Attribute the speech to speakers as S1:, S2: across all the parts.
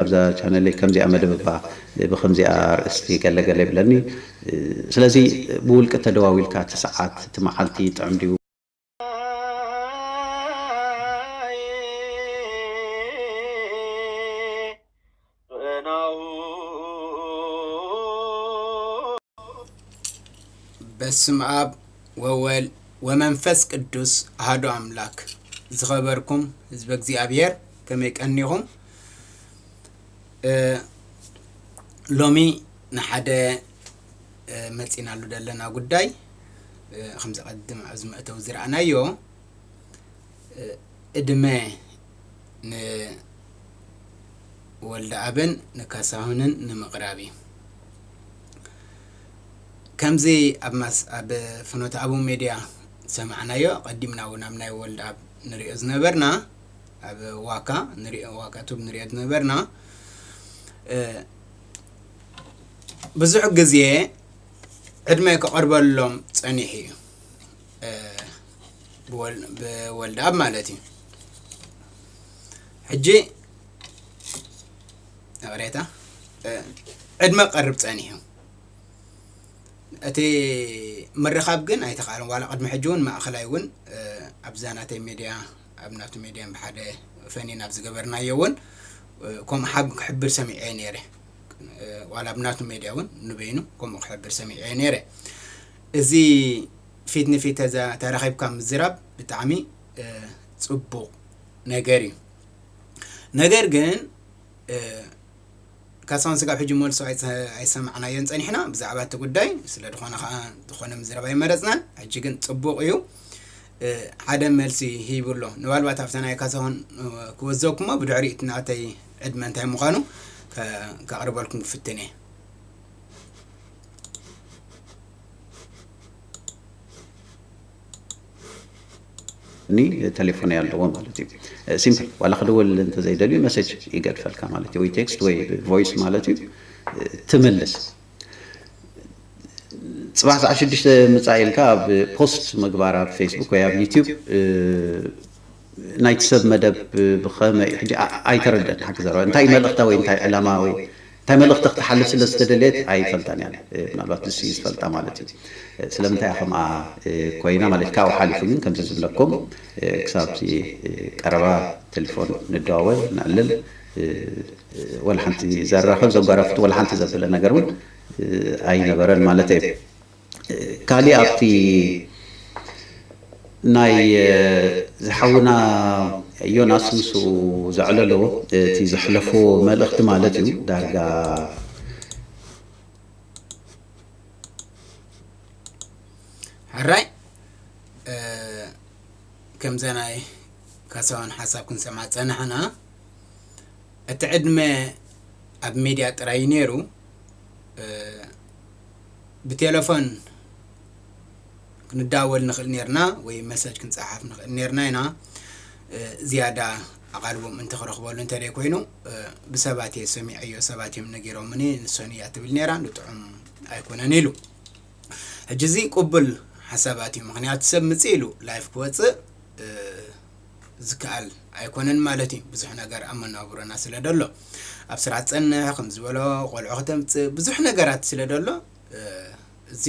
S1: ኣብዛ ቻነለይ ከምዚኣ መደብ እባ ብከምዚኣ ኣርእስቲ ገለ ገለ ይብለኒ ስለዚ ብውልቂ ተደዋዊልካ እቲ ሰዓት እቲ መዓልቲ ጥዕም ድዩ?
S2: በስምኣብ ወወል ወመንፈስ ቅዱስ ኣሃዱ ኣምላክ ዝኸበርኩም ህዝበ እግዚኣብሔር ከመይ ቀኒኹም። ሎሚ ንሓደ መፂናሉ ዘለና ጉዳይ ከምዚ ቀድም ኣብዚ መእተዊ ዝረኣናዮ እድመ ንወልደኣብን ንካሳሁንን ንምቕራብ እዩ ከምዚ ኣብ ማስ ኣብ ፍኖተ ኣቡ ሜድያ ዝሰማዕናዮ ቀዲምና እውን ኣብ ናይ ወልደኣብ ንሪኦ ዝነበርና ኣብ ዋካ ንሪኦ ዋካ ቱብ ንሪኦ ዝነበርና ብዙሕ ግዜ ዕድመ ክቐርበሎም ጸኒሑ እዩ ብወልድኣብ ማለት እዩ ሕጂ ይቕሬታ ዕድመ ቀርብ ጸኒሑ እቲ ምርኻብ ግን ኣይተኻእለን ዋላ ቅድሚ ሕጂ እውን ማእኸላይ እውን ኣብዛ ናተይ ሚድያ ኣብ ናቱ ሜድያን ብሓደ ፈኒን ኣብ ዝገበርናዮውን ከምኡ ሓብ ክሕብር ሰሚዐዮ ነይረ ዋላ ኣብ ናቱ ሜድያ እውን ንበይኑ ከምኡ ክሕብር ሰሚዐዮ ነይረ እዚ ፊት ንፊት ተዛ ተራኺብካ ምዝራብ ብጣዕሚ ፅቡቕ ነገር እዩ ነገር ግን ካሳሁን ስጋብ ሕጂ መልሱ ኣይሰማዕናዮን ጸኒሕና ብዛዕባ እቲ ጉዳይ ስለ ድኾነ ከኣ ዝኾነ ምዝራብ ኣይመረጽናን ሕጂ ግን ጽቡቅ እዩ ሓደ መልሲ ሂቡ ኣሎ ንባልባት ኣብታ ናይ ካሳሁን ክወዘኩሞ ብድሕሪ እቲ ናተይ ዕድመ እንታይ ምዃኑ ከቅርበልኩም ክፍትን እየ
S1: ኒ ተሌፎነይ ኣለዎ ማለት እዩ ሲምፕል ዋላ ክድወል እንተዘይደልዩ መሴጅ ይገድፈልካ ማለት እዩ ወይ ቴክስት ወይ ቮይስ ማለት እዩ ትምልስ ፅባሕ ሰዓ ሽዱሽተ ምፃእ ኢልካ ኣብ ፖስት ምግባር ኣብ ፌስቡክ ወይ ኣብ ዩትብ ናይቲ ሰብ መደብ ብኸመይ ሕጂ ኣይተረደን ሓቂ ዘረባ እንታይ መልእኽታ ወይ እንታይ ዕላማ ወይ እንታይ መልእኽቲ ክትሓልፍ ስለ ዝተደለየት ኣይፈልጣን እያ ምናልባት ንሱ እዩ ዝፈልጣ ማለት እዩ ስለምንታይ እያ ከምኣ ኮይና ማለት እዩ ካብኡ ሓሊፉ ግን ከምዚ ዝብለኩም ክሳብ እቲ ቀረባ ቴሌፎን ንደዋወል ነዕልል ወላ ሓንቲ ዘራኽብ ዘጓራፍጥ ወላ ሓንቲ ዘብለ ነገር እውን ኣይነበረን ማለተይ እዩ ካሊእ ኣብቲ ናይ ዝሓውና ዮናስ ምስኡ ዘዕለሎ እቲ ዘሕለፎ መልእኽቲ ማለት እዩ ዳርጋ
S2: ሕራይ ከምዛ ናይ ካሳዋን ሓሳብ ክንሰማ ፀናሕና እቲ ዕድመ ኣብ ሚድያ ጥራይ ነይሩ ብቴለፎን ክንዳወል ንኽእል ኔርና ወይ መሰጅ ክንጸሓፍ ንኽእል ኔርና ኢና ዝያዳ ኣቓልቦም እንተ ክረኽበሉ እንተ ዘይኮይኑ ብሰባት እየ ሰሚዐዮ ሰባት እዮም ነጊሮምኒ ንሶን እያ ትብል ነይራ ንጥዑም ኣይኮነን ኢሉ ሕጂ እዚ ቅቡል ሓሳባት እዩ ምክንያቱ ሰብ ምጽእ ኢሉ ላይፍ ክወፅእ ዝከኣል ኣይኮነን ማለት እዩ ብዙሕ ነገር ኣብ መነባብሮና ስለ ደሎ ኣብ ስራሕ ትጸንሕ ከም ዝበሎ ቆልዑ ከተምጽእ ብዙሕ ነገራት ስለ ደሎ እዚ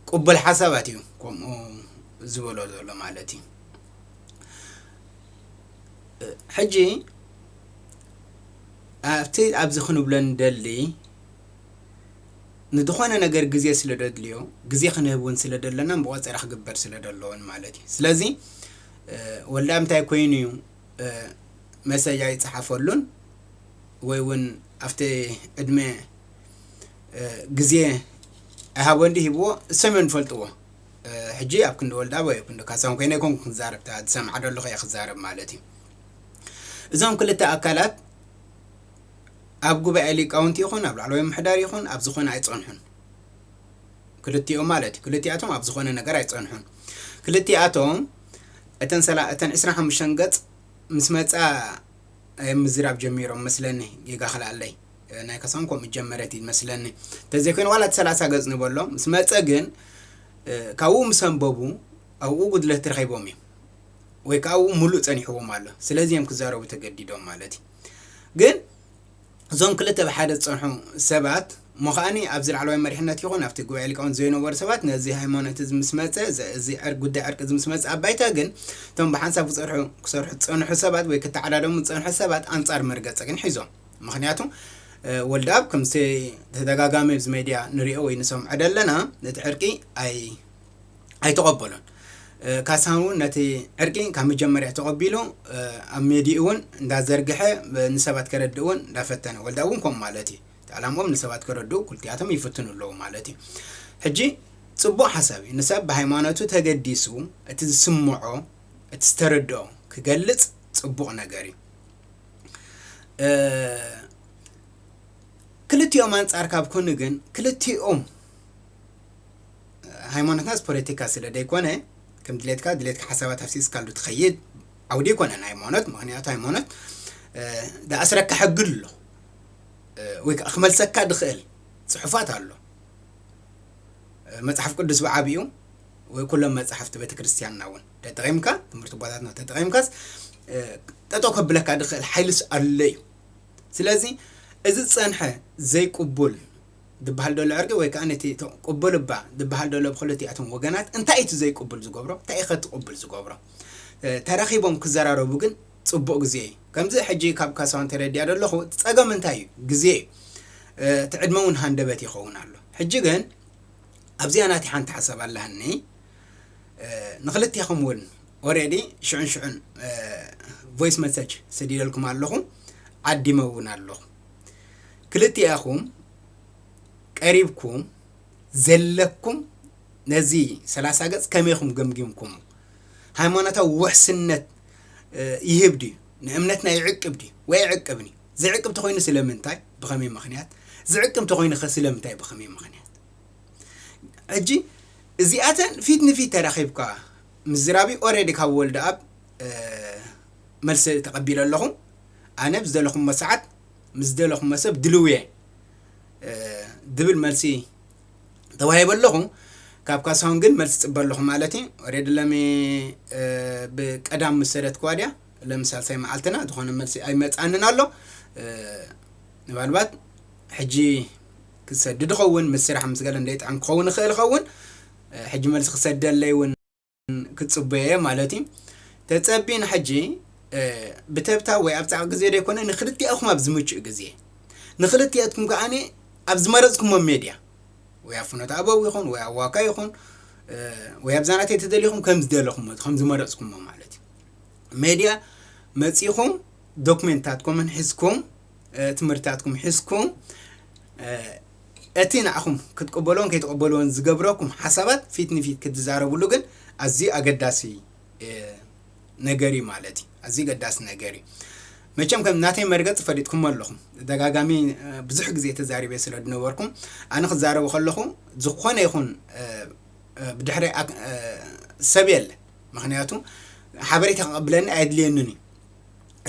S2: ቅቡል ሓሳባት እዩ ከምኡ ዝበሎ ዘሎ ማለት እዩ ሕጂ ኣብቲ ኣብዚ ክንብሎ ንደሊ ንድኾነ ነገር ግዜ ስለ ደድልዮ ግዜ ክንህብ ውን ስለ ደለናን ብቆጸራ ክግበር ስለ ደለዎን ማለት እዩ ስለዚ ወላ እንታይ ኮይኑ እዩ መሰጅ ኣይጸሓፈሉን ወይ ውን ኣብቲ ዕድመ ግዜ ኣይሃቦን ድዩ ሂብዎ እሶም እዮም ዝፈልጥዎ ሕጂ ኣብ ክንዲ ወልዳ ወይ ኣብ ክንዲ ካሳሁን ኮይነ ኣይኮንኩን ክዛረብ እታ ዝሰምዓ ደለኹ እየ ክዛረብ ማለት እዩ እዞም ክልተ ኣካላት ኣብ ጉባኤ ሊቃውንቲ ይኹን ኣብ ላዕለዋይ ምሕዳር ይኹን ኣብ ዝኾነ ኣይጸንሑን። ክልቲኦም ማለት እዩ። ክልቲኣቶም ኣብ ዝኾነ ነገር ኣይጸንሑን። ክልቲኣቶም እተን ሰላ እተን ዕስራን ሓሙሽተን ገጽ ምስ መጻ እዮም ምዝራብ ጀሚሮም መስለኒ ጌጋ ክልኣለይ ናይ ከሳም ከምኡ ጀመረት እዩ መስለኒ ተዘይኮይኑ ዋላ እቲ ሰላሳ ገጽ ንበሎ ምስ መጸ ግን ካብኡ ምስ ኣንበቡ ኣብኡ ጉድለት ረኺቦም እዮም ወይ ከዓ ኣብኡ ሙሉእ ጸኒሕዎም ኣሎ ስለዚ እዮም ክዛረቡ ተገዲዶም ማለት እዩ ግን እዞም ክልተ ብሓደ ዝጸንሑ ሰባት እሞ ከኣኒ ኣብዚ ላዕለዋይ መሪሕነት ይኹን ኣብቲ ጉባኤ ሊቃውንት ዘይነበሩ ሰባት ነዚ ሃይማኖት እዚ ምስ መጸ እዚ ጉዳይ ዕርቂ እዚ ምስ መጸ ኣብ ባይታ ግን እቶም ብሓንሳብ ክጸርሑ ክሰርሑ ዝጸንሑ ሰባት ወይ ክተዓዳደሙ ዝጸንሑ ሰባት ኣንጻር መርገጸ ግን ሒዞም ምክንያቱ ወልደኣብ ከምቲ ተደጋጋሚ ኣብዚ ሜድያ ንሪኦ ወይ ንሰምዖ ደለና ነቲ ዕርቂ ኣይ ኣይተቐበሎን። ካሳሁን እውን ነቲ ዕርቂ ካብ መጀመርያ ተቐቢሉ ኣብ ሜድኡ እውን እንዳዘርግሐ ንሰባት ከረድእ እውን እንዳፈተነ ወልዳ እውን ከምኡ ማለት እዩ እቲ ዕላምኦም ንሰባት ከረድኡ ኩልቲኣቶም ይፍትኑ ኣለዉ ማለት እዩ ሕጂ ጽቡቕ ሓሳብ እዩ ንሰብ ብሃይማኖቱ ተገዲሱ እቲ ዝስምዖ እቲ ዝተረድኦ ክገልጽ ጽቡቕ ነገር እዩ ክልቲኦም ኣንጻር ካብ ኮኑ ግን ክልቲኦም ሃይማኖትናስ ፖለቲካ ስለ ደይኮነ ከም ድሌትካ ድሌትካ ሓሳባት ሃፍሲስካሉ ትኸይድ ዓውዲ ኣይኮነን ሃይማኖት ምክንያቱ ሃይማኖት ዝኣስረካ ሕጊ ኣሎ ወይ ከዓ ክመልሰካ ድኽእል ፅሑፋት ኣሎ መፅሓፍ ቅዱስ ብዓብኡ ወይ ኩሎም መፅሓፍቲ ቤተ ክርስቲያንና እውን ተጠቒምካ ትምህርቲ ቦታትና ተጠቒምካስ ጠጦ ከብለካ ድኽእል ሓይልስ ኣሎ እዩ ስለዚ እዚ ዝፀንሐ ዘይቅቡል ዝብሃል ዘሎ ዕርቂ ወይ ከኣ ነቲ ቅቡል እባ ዝብሃል ዘሎ ብክልቲኣቶም ወገናት እንታይ እዩ እቲ ዘይቅቡል ዝገብሮ እንታይ እዩ ከ እቲ ቅቡል ዝገብሮ ተራኺቦም ክዘራረቡ ግን ጽቡቅ ግዜ እዩ ከምዚ ሕጂ ካብ ካሳሁን ተረዲኣ ዘለኹ እቲ ጸገም እንታይ እዩ ግዜ እዩ እቲ ዕድመ እውን ሃንደበት ይኸውን ኣሎ ሕጂ ግን ኣብዚኣ ናቲ ሓንቲ ሓሳብ ኣላኒ ንክልቴኹም እውን ኦሬዲ ሽዑን ሽዑን ቮይስ መሰጅ ሰዲደልኩም ኣለኹ ዓዲመ እውን ኣለኹ ክልቲኣኹም ቀሪብኩም ዘለኩም ነዚ ሰላሳ ገጽ ከመይ ኹም ገምጊምኩሞ? ሃይማኖታዊ ውሕስነት ይህብ ድዩ? ንእምነትና ይዕቅብ ድዩ ወይ ኣይዕቅብን እዩ? ዝዕቅብ እንተኾይኑ ስለምንታይ ብኸመይ ምኽንያት? ዝዕቅብ እንተኾይኑ ኸ ስለምንታይ ብኸመይ ምኽንያት? ሕጂ እዚኣተን ፊት ንፊት ተራኺብካ ምዝራቢ ኦልሬዲ ካብ ወልደኣብ መልሲ ተቐቢለ ኣለኹ። ኣነ ብ ዝደለኹሞ ሰዓት ምስ ዝደለኹሞ ሰብ ድልው እየ ዝብል መልሲ ተዋሂበ ኣለኹ። ካብ ካሳሁን ግን መልሲ ጽበ ኣለኹ ማለት እዩ ኦሬዲ ለሚ ብቀዳም ምስ ሰደትክዋ ድያ ለሚ ሳልሳይ መዓልትና ዝኾነ መልሲ ኣይመጽኣንን ኣሎ ምናልባት ሕጂ ክሰድድ ኸውን ምስ ስራሕ ምስ ገለ እንደይጥዕም ክኸውን ይኽእል ኸውን ሕጂ መልሲ ክሰደለይ እውን ክጽበዮ'የ ማለት እዩ ተጸብዪ ንሕጂ ብተብታብ ወይ ኣብ ጻዕቂ ግዜ ዘይኮነ ንክልቲኣኹም ኣብ ዝምቹእ ግዜ ንክልቲኣትኩም ከኣ ኣብ ዝመረጽኩሞ ሜድያ ወይ ኣብ ፍኖተ ኣበው ይኹን ወይ ኣብ ዋካ ይኹን ወይ ኣብዛ ናተይ ተደሊኹም ከም ዝደለኹሞ ከም ዝመረጽኩሞ ማለት እዩ ሜድያ መጺኹም ዶክሜንታትኩምን ሒዝኩም ትምህርትታትኩም ሒዝኩም እቲ ንዓኹም ክትቅበሎን ከይትቕበሎን ዝገብረኩም ሓሳባት ፊት ንፊት ክትዛረብሉ ግን ኣዝዩ ኣገዳሲ ነገር እዩ ማለት እዩ ኣዝዩ ገዳሲ ነገር እዩ መቸም ከም ናተይ መርገፂ ፈሊጥኩሞ ኣለኹም ደጋጋሚ ብዙሕ ግዜ ተዛሪበ ስለ ዝነበርኩም ኣነ ክዛረቡ ከለኹ ዝኾነ ይኹን ብድሕሪ ሰብ የለ ምክንያቱ ሓበሬታ ክቐብለኒ ኣየድልየንን እዩ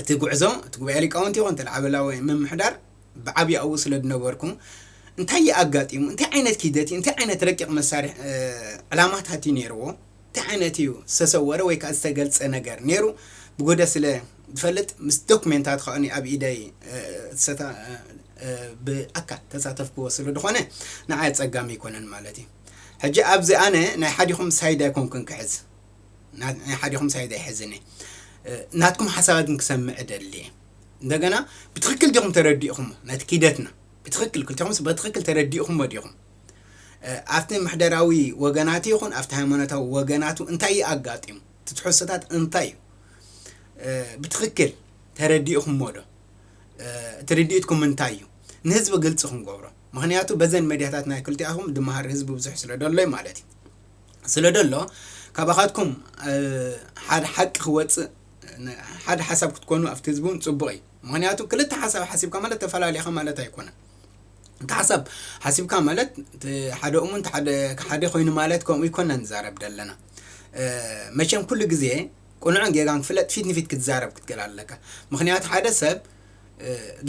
S2: እቲ ጉዕዞ እቲ ጉባኤ ሊቃውንቲ ይኹን እቲ ላዕበላዊ ምምሕዳር ብዓብዩ ኣብኡ ስለዝነበርኩ እንታይ እዩ ኣጋጢሙ እንታይ ዓይነት ኪደት እዩ እንታይ ዓይነት ረቂቕ መሳርሒ ዕላማታት እዩ ነይርዎ እንታይ ዓይነት እዩ ዝተሰወረ ወይ ከዓ ዝተገልፀ ነገር ነይሩ ብጎደ ስለ ዝፈልጥ ምስ ዶክሜንታት ከኣ ኣብ ኢደይ ብኣካል ተሳተፍክዎ ስለ ዝኾነ ንዓይ ኣፀጋሚ ኣይኮነን ማለት እዩ ሕጂ ኣብዚ ኣነ ናይ ሓዲኹም ሳይድ ኣይኮንኩን ክሕዝ ናይ ሓዲኹም ሳይድ ኣይሕዝን እየ ናትኩም ሓሳባት ግን ክሰምዕ እደሊ እየ እንደገና ብትክክል ዲኹም ተረዲእኹም ነቲ ኪደትና ብትክክል ክልቲኹምስ በትክክል ተረዲእኹሞ ዲኹም ኣብቲ ምሕደራዊ ወገናት ይኹን ኣብቲ ሃይማኖታዊ ወገናቱ እንታይ እዩ ኣጋጢሙ እቲ ትሕዝቶታት እንታይ እዩ ብትክክል ተረዲእኹሞ ዶ እቲ ርድኢትኩም እንታይ እዩ ንህዝቢ ግልፂ ክንገብሮ ምክንያቱ በዘን መድያታት ናይ ክልቲኣኹም ድመሃር ህዝቢ ብዙሕ ስለ ደሎይ ማለት እዩ ስለ ደሎ ካባኻትኩም ሓደ ሓቂ ክወፅእ ሓደ ሓሳብ ክትኮኑ ኣብቲ ህዝቢ እውን ፅቡቕ እዩ ምክንያቱ ክልተ ሓሳብ ሓሲብካ ማለት ተፈላለኻ ማለት ኣይኮነን እቲ ሓሳብ ሓሲብካ ማለት ሓደ እሙን ሓደ ኮይኑ ማለት ከምኡ ይኮና ንዛረብ ደለና መቸም ኩሉ ግዜ ቁኑዕን ጌጋን ክፍለጥ ፊት ንፊት ክትዛረብ ክትገል ኣለካ ምክንያቱ ሓደ ሰብ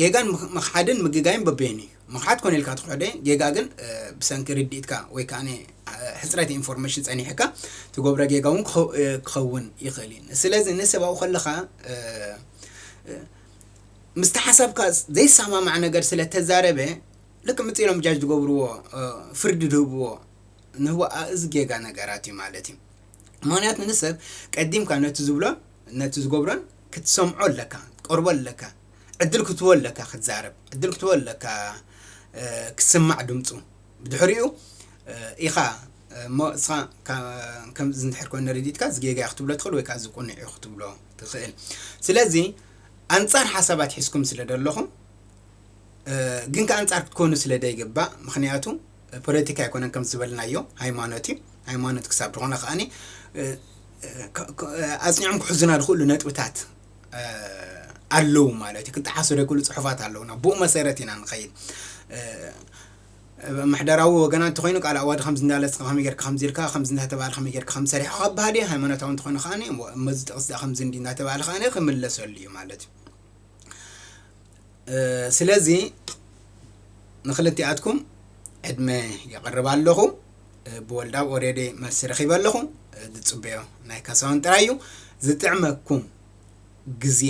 S2: ጌጋን ምኽሓድን ምግጋይን በበይኑ እዩ። ምኽሓድ ኮነ ኢልካ ትኽሕዶ እዩ፣ ጌጋ ግን ብሰንኪ ርድኢትካ ወይ ከኣ ሕጽረት ኢንፎርመሽን ጸኒሕካ ትገብሮ ጌጋ እውን ክኸውን ይኽእል እዩ። ስለዚ ንሰብኣዊ ከለኻ ምስቲ ሓሳብካ ዘይሰማማዕ ነገር ስለ ተዛረበ ልክዕ ምጽ ኢሎም ጃጅ ዝገብርዎ ፍርዲ ዝህብዎ ንህቦ እዚ ጌጋ ነገራት እዩ ማለት እዩ። ምክንያቱ ንሰብ ቀዲምካ ነቲ ዝብሎን ነቲ ዝገብሮን ክትሰምዖ ኣለካ ክትቀርቦ ኣለካ ዕድል ክትህቦ ኣለካ ክትዛረብ ዕድል ክትህቦ ኣለካ ክስማዕ ድምጹ ብድሕሪኡ ኢኻ እሞ እስኻ ከምዚ እንድሕር ኮይኑ ረዲትካ እዚ ጌጋ ክትብሎ ትኽእል ወይ ከዓ እዚ ቁኑዕ እዩ ክትብሎ ትኽእል ስለዚ ኣንጻር ሓሳባት ሒዝኩም ስለ ደለኹም ግን ከ ኣንጻር ክትኮኑ ስለ ደይግባእ ምክንያቱ ፖለቲካ ኣይኮነን ከም ዝበልናዮ ሃይማኖት እዩ ሃይማኖት ክሳብ ዝኾነ ከዓኒ ኣፅኒዖም ክሕዙና ዝኽእሉ ነጥብታት ኣለዉ ማለት እዩ ክጠሓሱ ዘይክእሉ ፅሑፋት ኣለዉና ብኡ መሰረት ኢና ንኸይድ ምሕደራዊ ወገና እንተኮይኑ ቃል ኣዋዲ ከምዚ እንዳለስ ከምዚ ጌርካ ከምዚ ኢልካ ከምዚ እንዳተባለ ከምዚ ጌርካ ከምዚ ሰሪሕካ ክበሃል እዩ ሃይማኖታዊ እንተኮይኑ ከዓ መዚ ጥቕስ ከምዚ እንዲ እንዳተባለ ከዓ ክምለሰሉ እዩ ማለት እዩ ስለዚ ንክልቲኣትኩም ዕድመ የቕርብ ኣለኹ ብወልዳብ ኦሬዲ መልሲ ረኺበ ኣለኹ ዝፅበዮ ናይ ካሳውን ጥራይ እዩ ዝጥዕመኩም ግዜ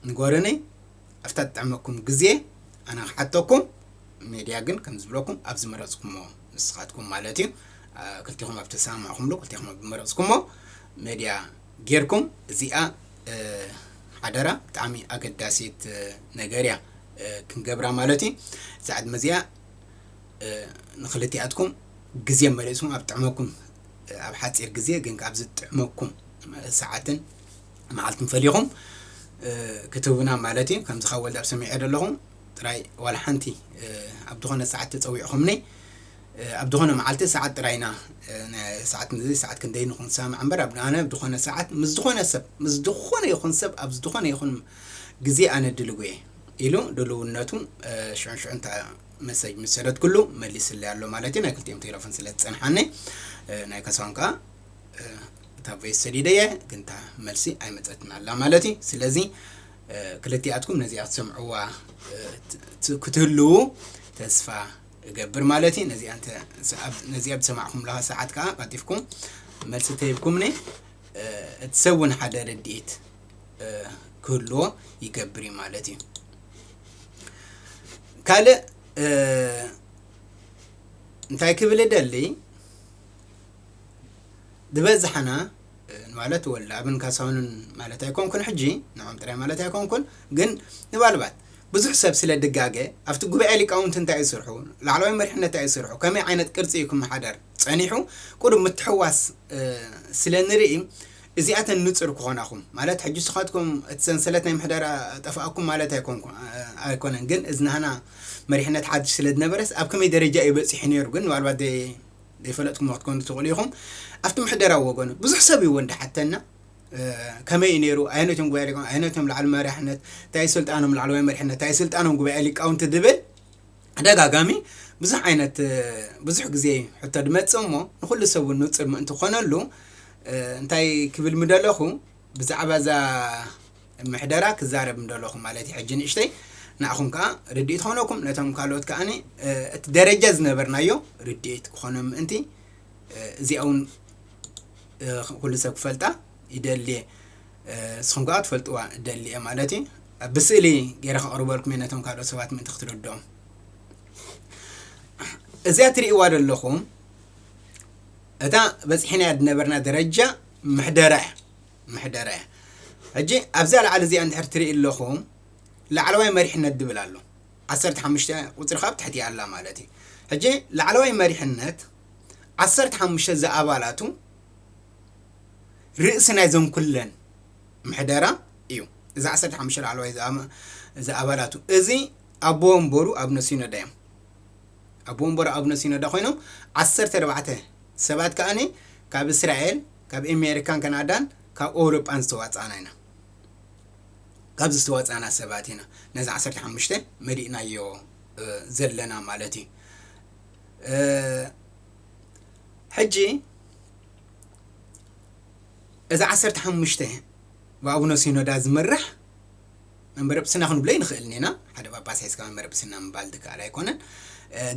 S2: ንጎርኒ ኣብታ ትጥዕመኩም ግዜ ኣነ ክሓተኩም ሜድያ ግን ከም ዝብለኩም ኣብ ዝመረፅኩሞ ንስኻትኩም ማለት እዩ ክልቲኹም ኣብ ተሰማማዕኹምሉ ክልቲኹም ኣብ ዝመረፅኩሞ ሜድያ ጌርኩም እዚኣ ሓደራ ብጣዕሚ ኣገዳሲት ነገር እያ ክንገብራ ማለት እዩ እዛ ዕድመ እዚኣ ንክልቲኣትኩም ግዜ መሊእስኩም ኣብ ጥዕመኩም ኣብ ሓፂር ግዜ ግን ኣብ ዝጥዕመኩም ሰዓትን መዓልትን ፈሊኹም ክትህቡና ማለት እዩ ከምዚ ካብ ወልዳብ ሰሚዐ ዘለኹ ጥራይ ዋላ ሓንቲ ኣብ ዝኾነ ሰዓት ተፀዊዕኹምኒ ኣብ ድኾነ መዓልቲ ሰዓት ጥራይ ኢና ናይ ሰዓት እዚ ሰዓት ክንደይ ኢሉ ክንሰማማዕ እምበር ኣብ ኣነ ኣብ ድኾነ ሰዓት ምስ ዝኾነ ሰብ ምስ ዝኾነ ይኹን ሰብ ኣብ ድኾነ ይኹን ግዜ ኣነ ድልው እየ ኢሉ ድልውነቱ ሽዑን ሽዑን እታ መሰጅ ምስ ሰደትኩሉ መሊስለይ ኣሎ ማለት እዩ ናይ ክልቲኦም ቴለፎን ስለ ዝጸንሓኒ ናይ ካሳሁን ከኣ እታ ቮይስ ሰዲደየ ግን እታ መልሲ ኣይመጸትን ኣላ ማለት እዩ ስለዚ ክልቲኣትኩም ነዚኣ ክትሰምዕዋ ክትህልዉ ተስፋ እገብር ማለት እዩ ነዚኣ እንተ ሰዓብ- ነዚኣ ብሰማዕኩምለኻ ሰዓት ከዓ ቀልጢፍኩም መልሲ ተሂብኩምኒ እ፣ እቲ ሰብ እውን ሓደ ረድኤት እ፣ ክህልዎ ይገብር እዩ ማለት እዩ ካልእ እ፣ እንታይ ክብል እደሊ ዝበዝሓና ማለት ወላኣብን ካሳውንን ማለት ኣይኮንኩን ሕጂ ንዖም ጥራይ ማለት ኣይኮንኩን ግን ንባልባት ብዙሕ ሰብ ስለ ድጋገ ኣብቲ ጉባኤ ሊቃውንቲ እንታይ እዩ ስርሑ ላዕለዋይ መሪሕነት እንታይ እዩ ስርሑ ከመይ ዓይነት ቅርፂ እዩ ክመሓደር ፀኒሑ ቁሩብ ምትሕዋስ ስለ ንርኢ እዚኣተን ንፁር ክኾናኹም ማለት ሕጂ ስኻትኩም እቲ ሰንሰለት ናይ ምሕደራ ጠፍኣኩም ማለት ኣይኮነን ግን እዝናህና መሪሕነት ሓድሽ ስለ ዝነበረስ ኣብ ከመይ ደረጃ እዩ በፂሑ ነይሩ ግን ምናልባት ዘይፈለጥኩሞ ክትኮኑ ትኽእሉ ኢኹም። ኣብቲ ምሕደራዊ ወገኑ ብዙሕ ሰብ እዩ እውን ድሓተና ከመይ እዩ ነይሩ ኣየኖት እዮም ጉባኤ ሊቃውንቲ ኣየኖት እዮም ላዕሊ መሪሕነት እንታይ እዩ ስልጣኖም ላዕለዋይ መሪሕነት እንታይ ስልጣኖም ጉባኤ ሊቃውንቲ ድብል ተደጋጋሚ ብዙሕ ዓይነት ብዙሕ ግዜ እዩ ሕቶ ድመፅእ እሞ ንኩሉ ሰብ እውን ንፁር ምእንቲ ኮነሉ እንታይ ክብል ምደለኹ ብዛዕባ እዛ ምሕደራ ክዛረብ ምደለኹ ማለት'ዩ ሕጂ ንእሽተይ ንኣኹም ከኣ ርድኢት ኾነኩም ነቶም ካልኦት ከኣ እቲ ደረጃ ዝነበርናዮ ርድኢት ክኾኖም ምእንቲ እዚኣ እውን ኩሉ ሰብ ክፈልጣ ይደልየ ንስኹም ከኣ ትፈልጥዋ ደልየ ማለት እዩ ብስእሊ ገይረ ከቕርበልኩም እየ ነቶም ካልኦት ሰባት ምእንቲ ክትርድኦም እዚኣ ትርእይዋ ዘለኹም እታ በፂሕናያ ዝነበርና ደረጃ ምሕደራ እያ ምሕደራ እያ። ሕጂ ኣብዛ ላዕሊ እዚኣ እንድሕር ትሪኢ ኣለኹም ላዕለዋይ መሪሕነት ድብል ኣሎ። ዓሰርተ ሓሙሽተ ቁጽሪ ከኣ ኣብ ትሕቲኣ ኣላ ማለት እዩ። ሕጂ ላዕለዋይ መሪሕነት ዓሰርተ ሓሙሽተ ዝኣባላቱ ርእሲ ናይዘን ኩለን ምሕደራ እዩ። እዚ ዓሰርተ ሓሙሽተ ላዕለዋይ ዝኣባላቱ እዚ ኣቦ ወንበሩ ኣብነ ሲኖዳ እዮም። ኣቦ ወንበሩ ኣብነ ሲኖዳ ኮይኖም ዓሰርተ ኣርባዕተ ሰባት ከኣ ካብ እስራኤል ካብ ኤሜሪካን ከናዳን ካብ ኦውሮጳን ዝተዋጻእና ኢና። ካብዚ ዝተዋጻእና ሰባት ኢና ነዚ ዓሰርተ ሓሙሽተ መሊእናዮ ዘለና ማለት እዩ። ሕጂ እዚ ዓሰርተ ሓሙሽተ ብኣቡነ ሲኖዳ ዝምራሕ መንበረ ጵጵስና ክንብሎ ኣይንኽእልን ኢና፣ ሓደ ጳጳስ ሒዝካ መንበረ ጵጵስና ምባል ዝከኣል ኣይኮነን፣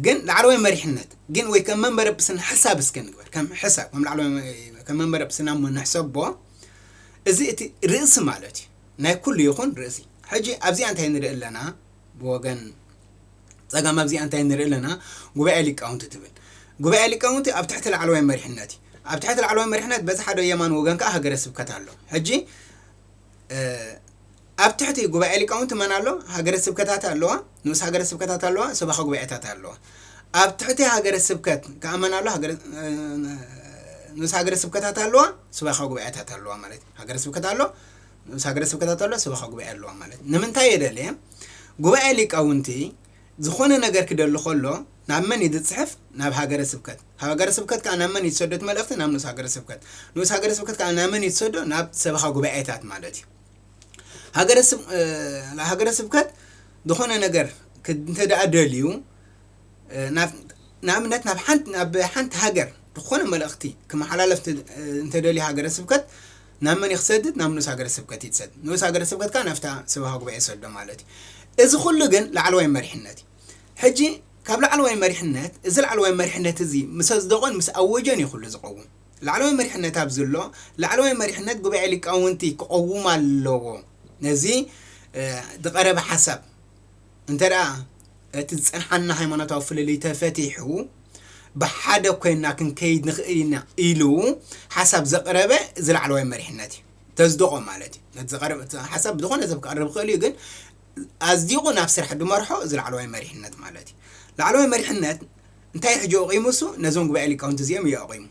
S2: ግን ላዕለዋይ መሪሕነት ግን ወይ ከም መንበረ ጵጵስና ሕሳብ እስከ ንግበር፣ ከም ሕሳብ ከም ላዕለዋይ ከም መንበረ ጵጵስና እሞ ንሕሰቦ፣ እዚ እቲ ርእሲ ማለት እዩ፣ ናይ ኩሉ ይኹን ርእሲ። ሕጂ ኣብዚኣ እንታይ ንርኢ ኣለና ብወገን ጸጋም ኣብዚኣ እንታይ ንርኢ ኣለና ጉባኤ ሊቃውንቲ ትብል ጉባኤ ሊቃውንቲ ኣብ ትሕቲ ላዕለዋይ መሪሕነት እዩ ኣብ ትሕቲ ላዕለዋይ መሪሕነት በዚ ሓደ የማን ወገን ከዓ ሃገረ ስብከት ኣሎ ሕጂ ኣብ ትሕቲ ጉባኤ ሊቃውንቲ መን ኣሎ? ሃገረ ስብከታት ኣለዋ፣ ንኡስ ሃገረ ስብከታት ኣለዋ፣ ሰባኺ ጉባኤታት ኣለዋ። ኣብ ትሕቲ ሃገረ ስብከት ከኣ መን ኣሎ? ንኡስ ሃገረ ስብከታት ኣለዋ፣ ሰባኺ ጉባኤታት ኣለዋ ማለት እዩ። ሃገረ ስብከት ኣሎ፣ ንኡስ ሃገረ ስብከታት ኣሎ፣ ሰባኺ ጉባኤ ኣለዋ ማለት እዩ። ንምንታይ የደልየ? ጉባኤ ሊቃውንቲ ዝኾነ ነገር ክደሊ ከሎ ናብ መን እዩ ዝጽሕፍ? ናብ ሃገረ ስብከት። ካብ ሃገረ ስብከት ከኣ ናብ መን እዩ ዝሰዶ እቲ መልእኽቲ? ናብ ንኡስ ሃገረ ስብከት። ንኡስ ሃገረ ስብከት ከኣ ናብ መን እዩ ዝሰዶ? ናብ ሰበኻ ጉባኤታት ማለት እዩ። ሃገረ ስብ ሃገረ ስብከት ዝኾነ ነገር ክ- እንተ ደኣ ደልዩ እ፣ ናብ ንኣብነት ናብ ሓንቲ ናብ ሓንቲ ሃገር ዝኾነ መልእኽቲ ክመሓላለፍ እንተ- እ፣ እንተደልዩ ሃገረ ስብከት ናብ መን እዩ ክሰድድ? ናብ ንኡስ ሃገረ ስብከት እዩ ዝሰድድ። ንኡስ ሃገረ ስብከት ከኣ ናብታ ሰበኻ ጉባኤ ይሰዶ ማለት እዩ። እዚ ኹሉ ግን ላዕለዋይ መሪሕነት እዩ። ሕጂ ካብ ላዕለዋይ መሪሕነት እዚ ላዕለዋይ መሪሕነት እዚ ምስ ኣጽደቖን ምስ ኣወጆን እዩ ኹሉ ዝቐውም። ላዕለዋይ መሪሕነት ኣብዚ ኣሎ። ላዕለዋይ መሪሕነት ጉባኤ ሊቃውንቲ ክቐውም ኣለዎ ነዚ ዝቐረበ ሓሳብ። እንተድኣ እቲ ዝጸንሓና ሃይማኖታዊ ፍልልይ ተፈቲሑ ብሓደ ኮይንና ክንከይድ ንኽእል ኢና ኢሉ ሓሳብ ዘቕረበ እዚ ላዕለዋይ መሪሕነት እዩ። ተዝደቖ ማለት እዩ። ነቲ ዝቐረበ እቲ ሓሳብ ብዝኾነ ሰብ ክቐርብ ይኽእል እዩ፣ ግን ኣዝዲቑ ናብ ስራሕ ዝመርሖ እዚ ላዕለዋይ መሪሕነት ማለት እዩ። ላዕለዋይ መሪሕነት እንታይ እዩ ሕጂ ኣቑሙሱ? ነዞም ጉባኤ ሊቃውንቲ እዚኦም እዩ ኣቑሙ።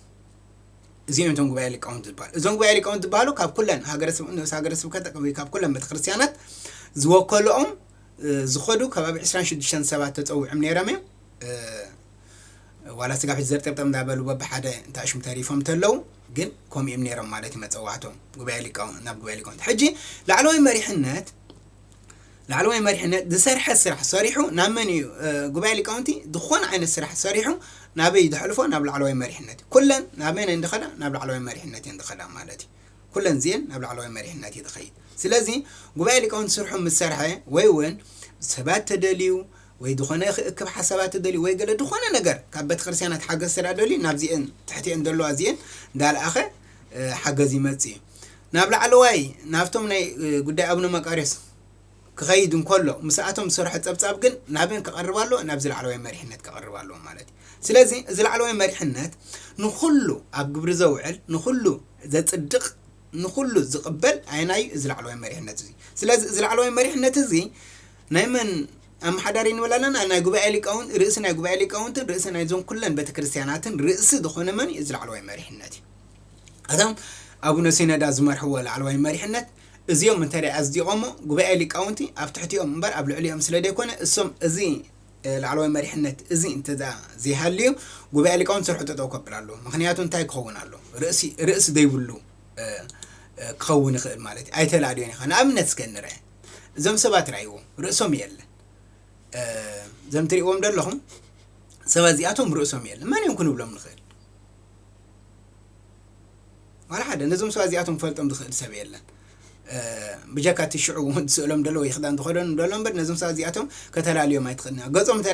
S2: እዚኦም እዮም እቶም ጉባኤ ሊቃውንት ዝበሃሉ። እዞም ጉባኤ ሊቃውንት ዝበሃሉ ካብ ኩለን ሃገረ ስብ- ንኡስ ሃገረ ስብከት ወይ ካብ ኩለን ቤተ ክርስቲያናት ዝወከልኦም እ፣ ዝኸዱ ከባቢ 26 ሰባት ተጸዊዖም ነይሮም እዮም እ፣ ዋላ ስጋብ ሕጂ ዘርጠብጠብ እንዳበሉ በብሓደ እንታይ ሽም ተሪፎም ተለው ግን ከምኡ እዮም ነይሮም ማለት እዩ መጸዋዕቶም ጉባኤ ሊቃውንት ናብ ጉባኤ ሊቃውንት ሕጂ ላዕለዋይ መሪሕነት ላዕለዋይ መሪሕነት ዝሰርሐ ስራሕ ሰሪሑ ናብ መን እዩ ጉባኤ ሊቃውንቲ ዝኾነ ዓይነት ስራሕ ሰሪሑ ናበይ እዩ ዘሕልፎ ናብ ላዕለዋይ መሪሕነት እዩ ኩለን ናብ መን እየን ዝኸዳ ናብ ላዕለዋይ መሪሕነት እየን ዝኸዳ ማለት እዩ ኩለን እዚኤን ናብ ላዕለዋይ መሪሕነት እዩ ዝኸይድ ስለዚ ጉባኤ ሊቃውንቲ ስርሑ ምስ ሰርሐ ወይ እውን ሰባት ተደልዩ ወይ ዝኾነ ክእክብ ሓሳባት ተደልዩ ወይ ገለ ዝኾነ ነገር ካብ ቤተክርስትያናት ሓገዝ ስራ ደልዩ ናብዚኤን ትሕቲኤን ዘለዋ እዚኤን እንዳልኣኸ ሓገዝ ይመጽእ እዩ። ናብ ላዕለዋይ ናብቶም ናይ ጉዳይ ኣቡነ መቃርዮስ ክኸይድ እንከሎ ምስኣቶም ዝሰርሖ ጸብጻብ ግን ናብን ክቐርብ ኣሎ ናብዚ ላዕለዋይ መሪሕነት ክቐርብ ኣለዎ ማለት እዩ። ስለዚ እዚ ላዕለዋይ መሪሕነት ንኹሉ ኣብ ግብሪ ዘውዕል ንኹሉ ዘጽድቕ ንኹሉ ዝቕበል ኣየናዩ እዚ ላዕለዋይ መሪሕነት እዚ። ስለዚ እዚ ላዕለዋይ መሪሕነት እዚ ናይ መን ኣመሓዳሪ እንበል ኣለና፣ ናይ ጉባኤ ሊቃውንት፣ ርእሲ ናይ ጉባኤ ሊቃውንትን ርእሲ ናይ እዞን ኩለን ቤተ ክርስቲያናትን ርእሲ ዝኾነ መን እዩ? እዚ ላዕለዋይ መሪሕነት እዩ። እቶም ኣቡነ ሲኖዳ ዝመርሕዎ ላዕለዋይ መሪሕነት እዚኦም እንተ ኣጽዲቖሞ ጉባኤ ሊቃውንቲ ኣብ ትሕቲኦም እምበር ኣብ ልዕሊኦም ስለ ዘይኮነ እሶም እዚ ላዕለዋይ መሪሕነት እዚ እንተ ዘይሃልዩ ጉባኤ ሊቃውንቲ ስርሑ ጠጠው ከብል ኣለዎ። ምክንያቱ እንታይ ክኸውን ኣለዎ? ርእሲ ዘይብሉ ክኸውን ይኽእል ማለት እዩ። ኣይተላልዮን ኢኻ። ንኣብነት እስከ ንርኣ። እዞም ሰባት ርኣይዎም ርእሶም የለን እዞም ትሪእዎም ዘለኹም ሰባት እዚኣቶም ርእሶም የለን መን እዮም ክንብሎም ንኽእል ዋላ ሓደ ነዞም ሰባት እዚኣቶም ክፈልጦም ዝኽእል ሰብ የለን ብጀካ እቲ ሽዑ ስእሎም ደሎ ወይ ክዳን ዝኸደኑ ደሎ እምበር ነዞም ሰባት እዚኣቶም ከተላልዮም ኣይትኽእልና ገጾም እንተ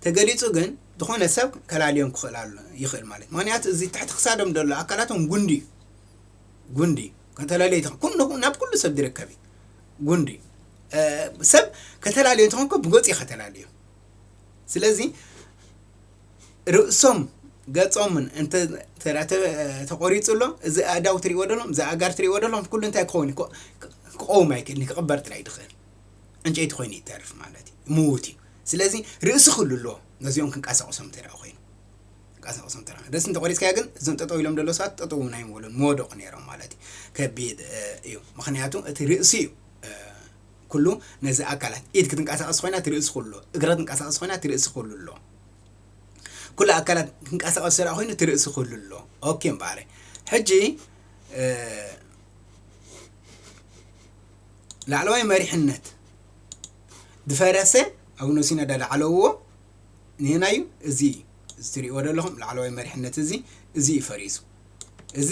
S2: ተገሊጹ ግን ዝኾነ ሰብ ከላልዮም ክኽእል ይኽእል ማለት ምክንያቱ እዚ ትሕቲ ክሳዶም ደሎ ኣካላቶም ጉንዲ እዩ ጉንዲ ከተላለዩ ተኾ ኩሉ ናብ ኩሉ ሰብ ዝርከብ እዩ ጉንዲ ሰብ ከተላለዩ ተኾንኮ ብገጹ ከተላለዩ ስለዚ ርእሶም ገጾምን እንተ ተቆሪጹ ኣሎ እዚ ኣእዳው ትሪእዎ ደሎም እዚ ኣእጋር ትሪእዎ ደሎም ኩሉ እንታይ ክኸውን እዩ ክቆውም ኣይክእልን ክቕበር ጥራይ ድኽእል ዕንጨይቲ ኮይኑ ይተርፍ ማለት እዩ ምዉት እዩ ስለዚ ርእሲ ክህሉ ኣለዎ ነዚኦም ክንቀሳቀሶም እንተ ኮይኑ ቀሳቕሶም ተራ ደስ እንተቆሪፅካዮ ግን እዞም ጠጠው ኢሎም ደሎ ሰባት ጠጠው እውን ኣይምበሉን መወደቑ ነይሮም ማለት እዩ ከቢድ እዩ ምክንያቱ እቲ ርእሲ እዩ ኩሉ ነዚ ኣካላት ኢድ ክትንቀሳቐስ ኮይና እቲ ርእሲ ኩሉ እግረ ትንቀሳቐስ ኮይና እቲ ርእሲ ኩሉ ኣሎ ኩሉ ኣካላት ክንቀሳቐስ ስራ ኮይኑ እቲ ርእሲ ኩሉ ኣሎ ኦኬ እምበኣረ ሕጂ ላዕለዋይ መሪሕነት ዝፈረሰ ኣቡነ ሲኖዳ ዳዕለውዎ ንየናይ እዩ? እዚ እዩ። እዚ ትርእይዎ ዘለኹም ላዕለዋይ መሪሕነት እዚ፣ እዚ እዩ ፈሪሱ። እዚ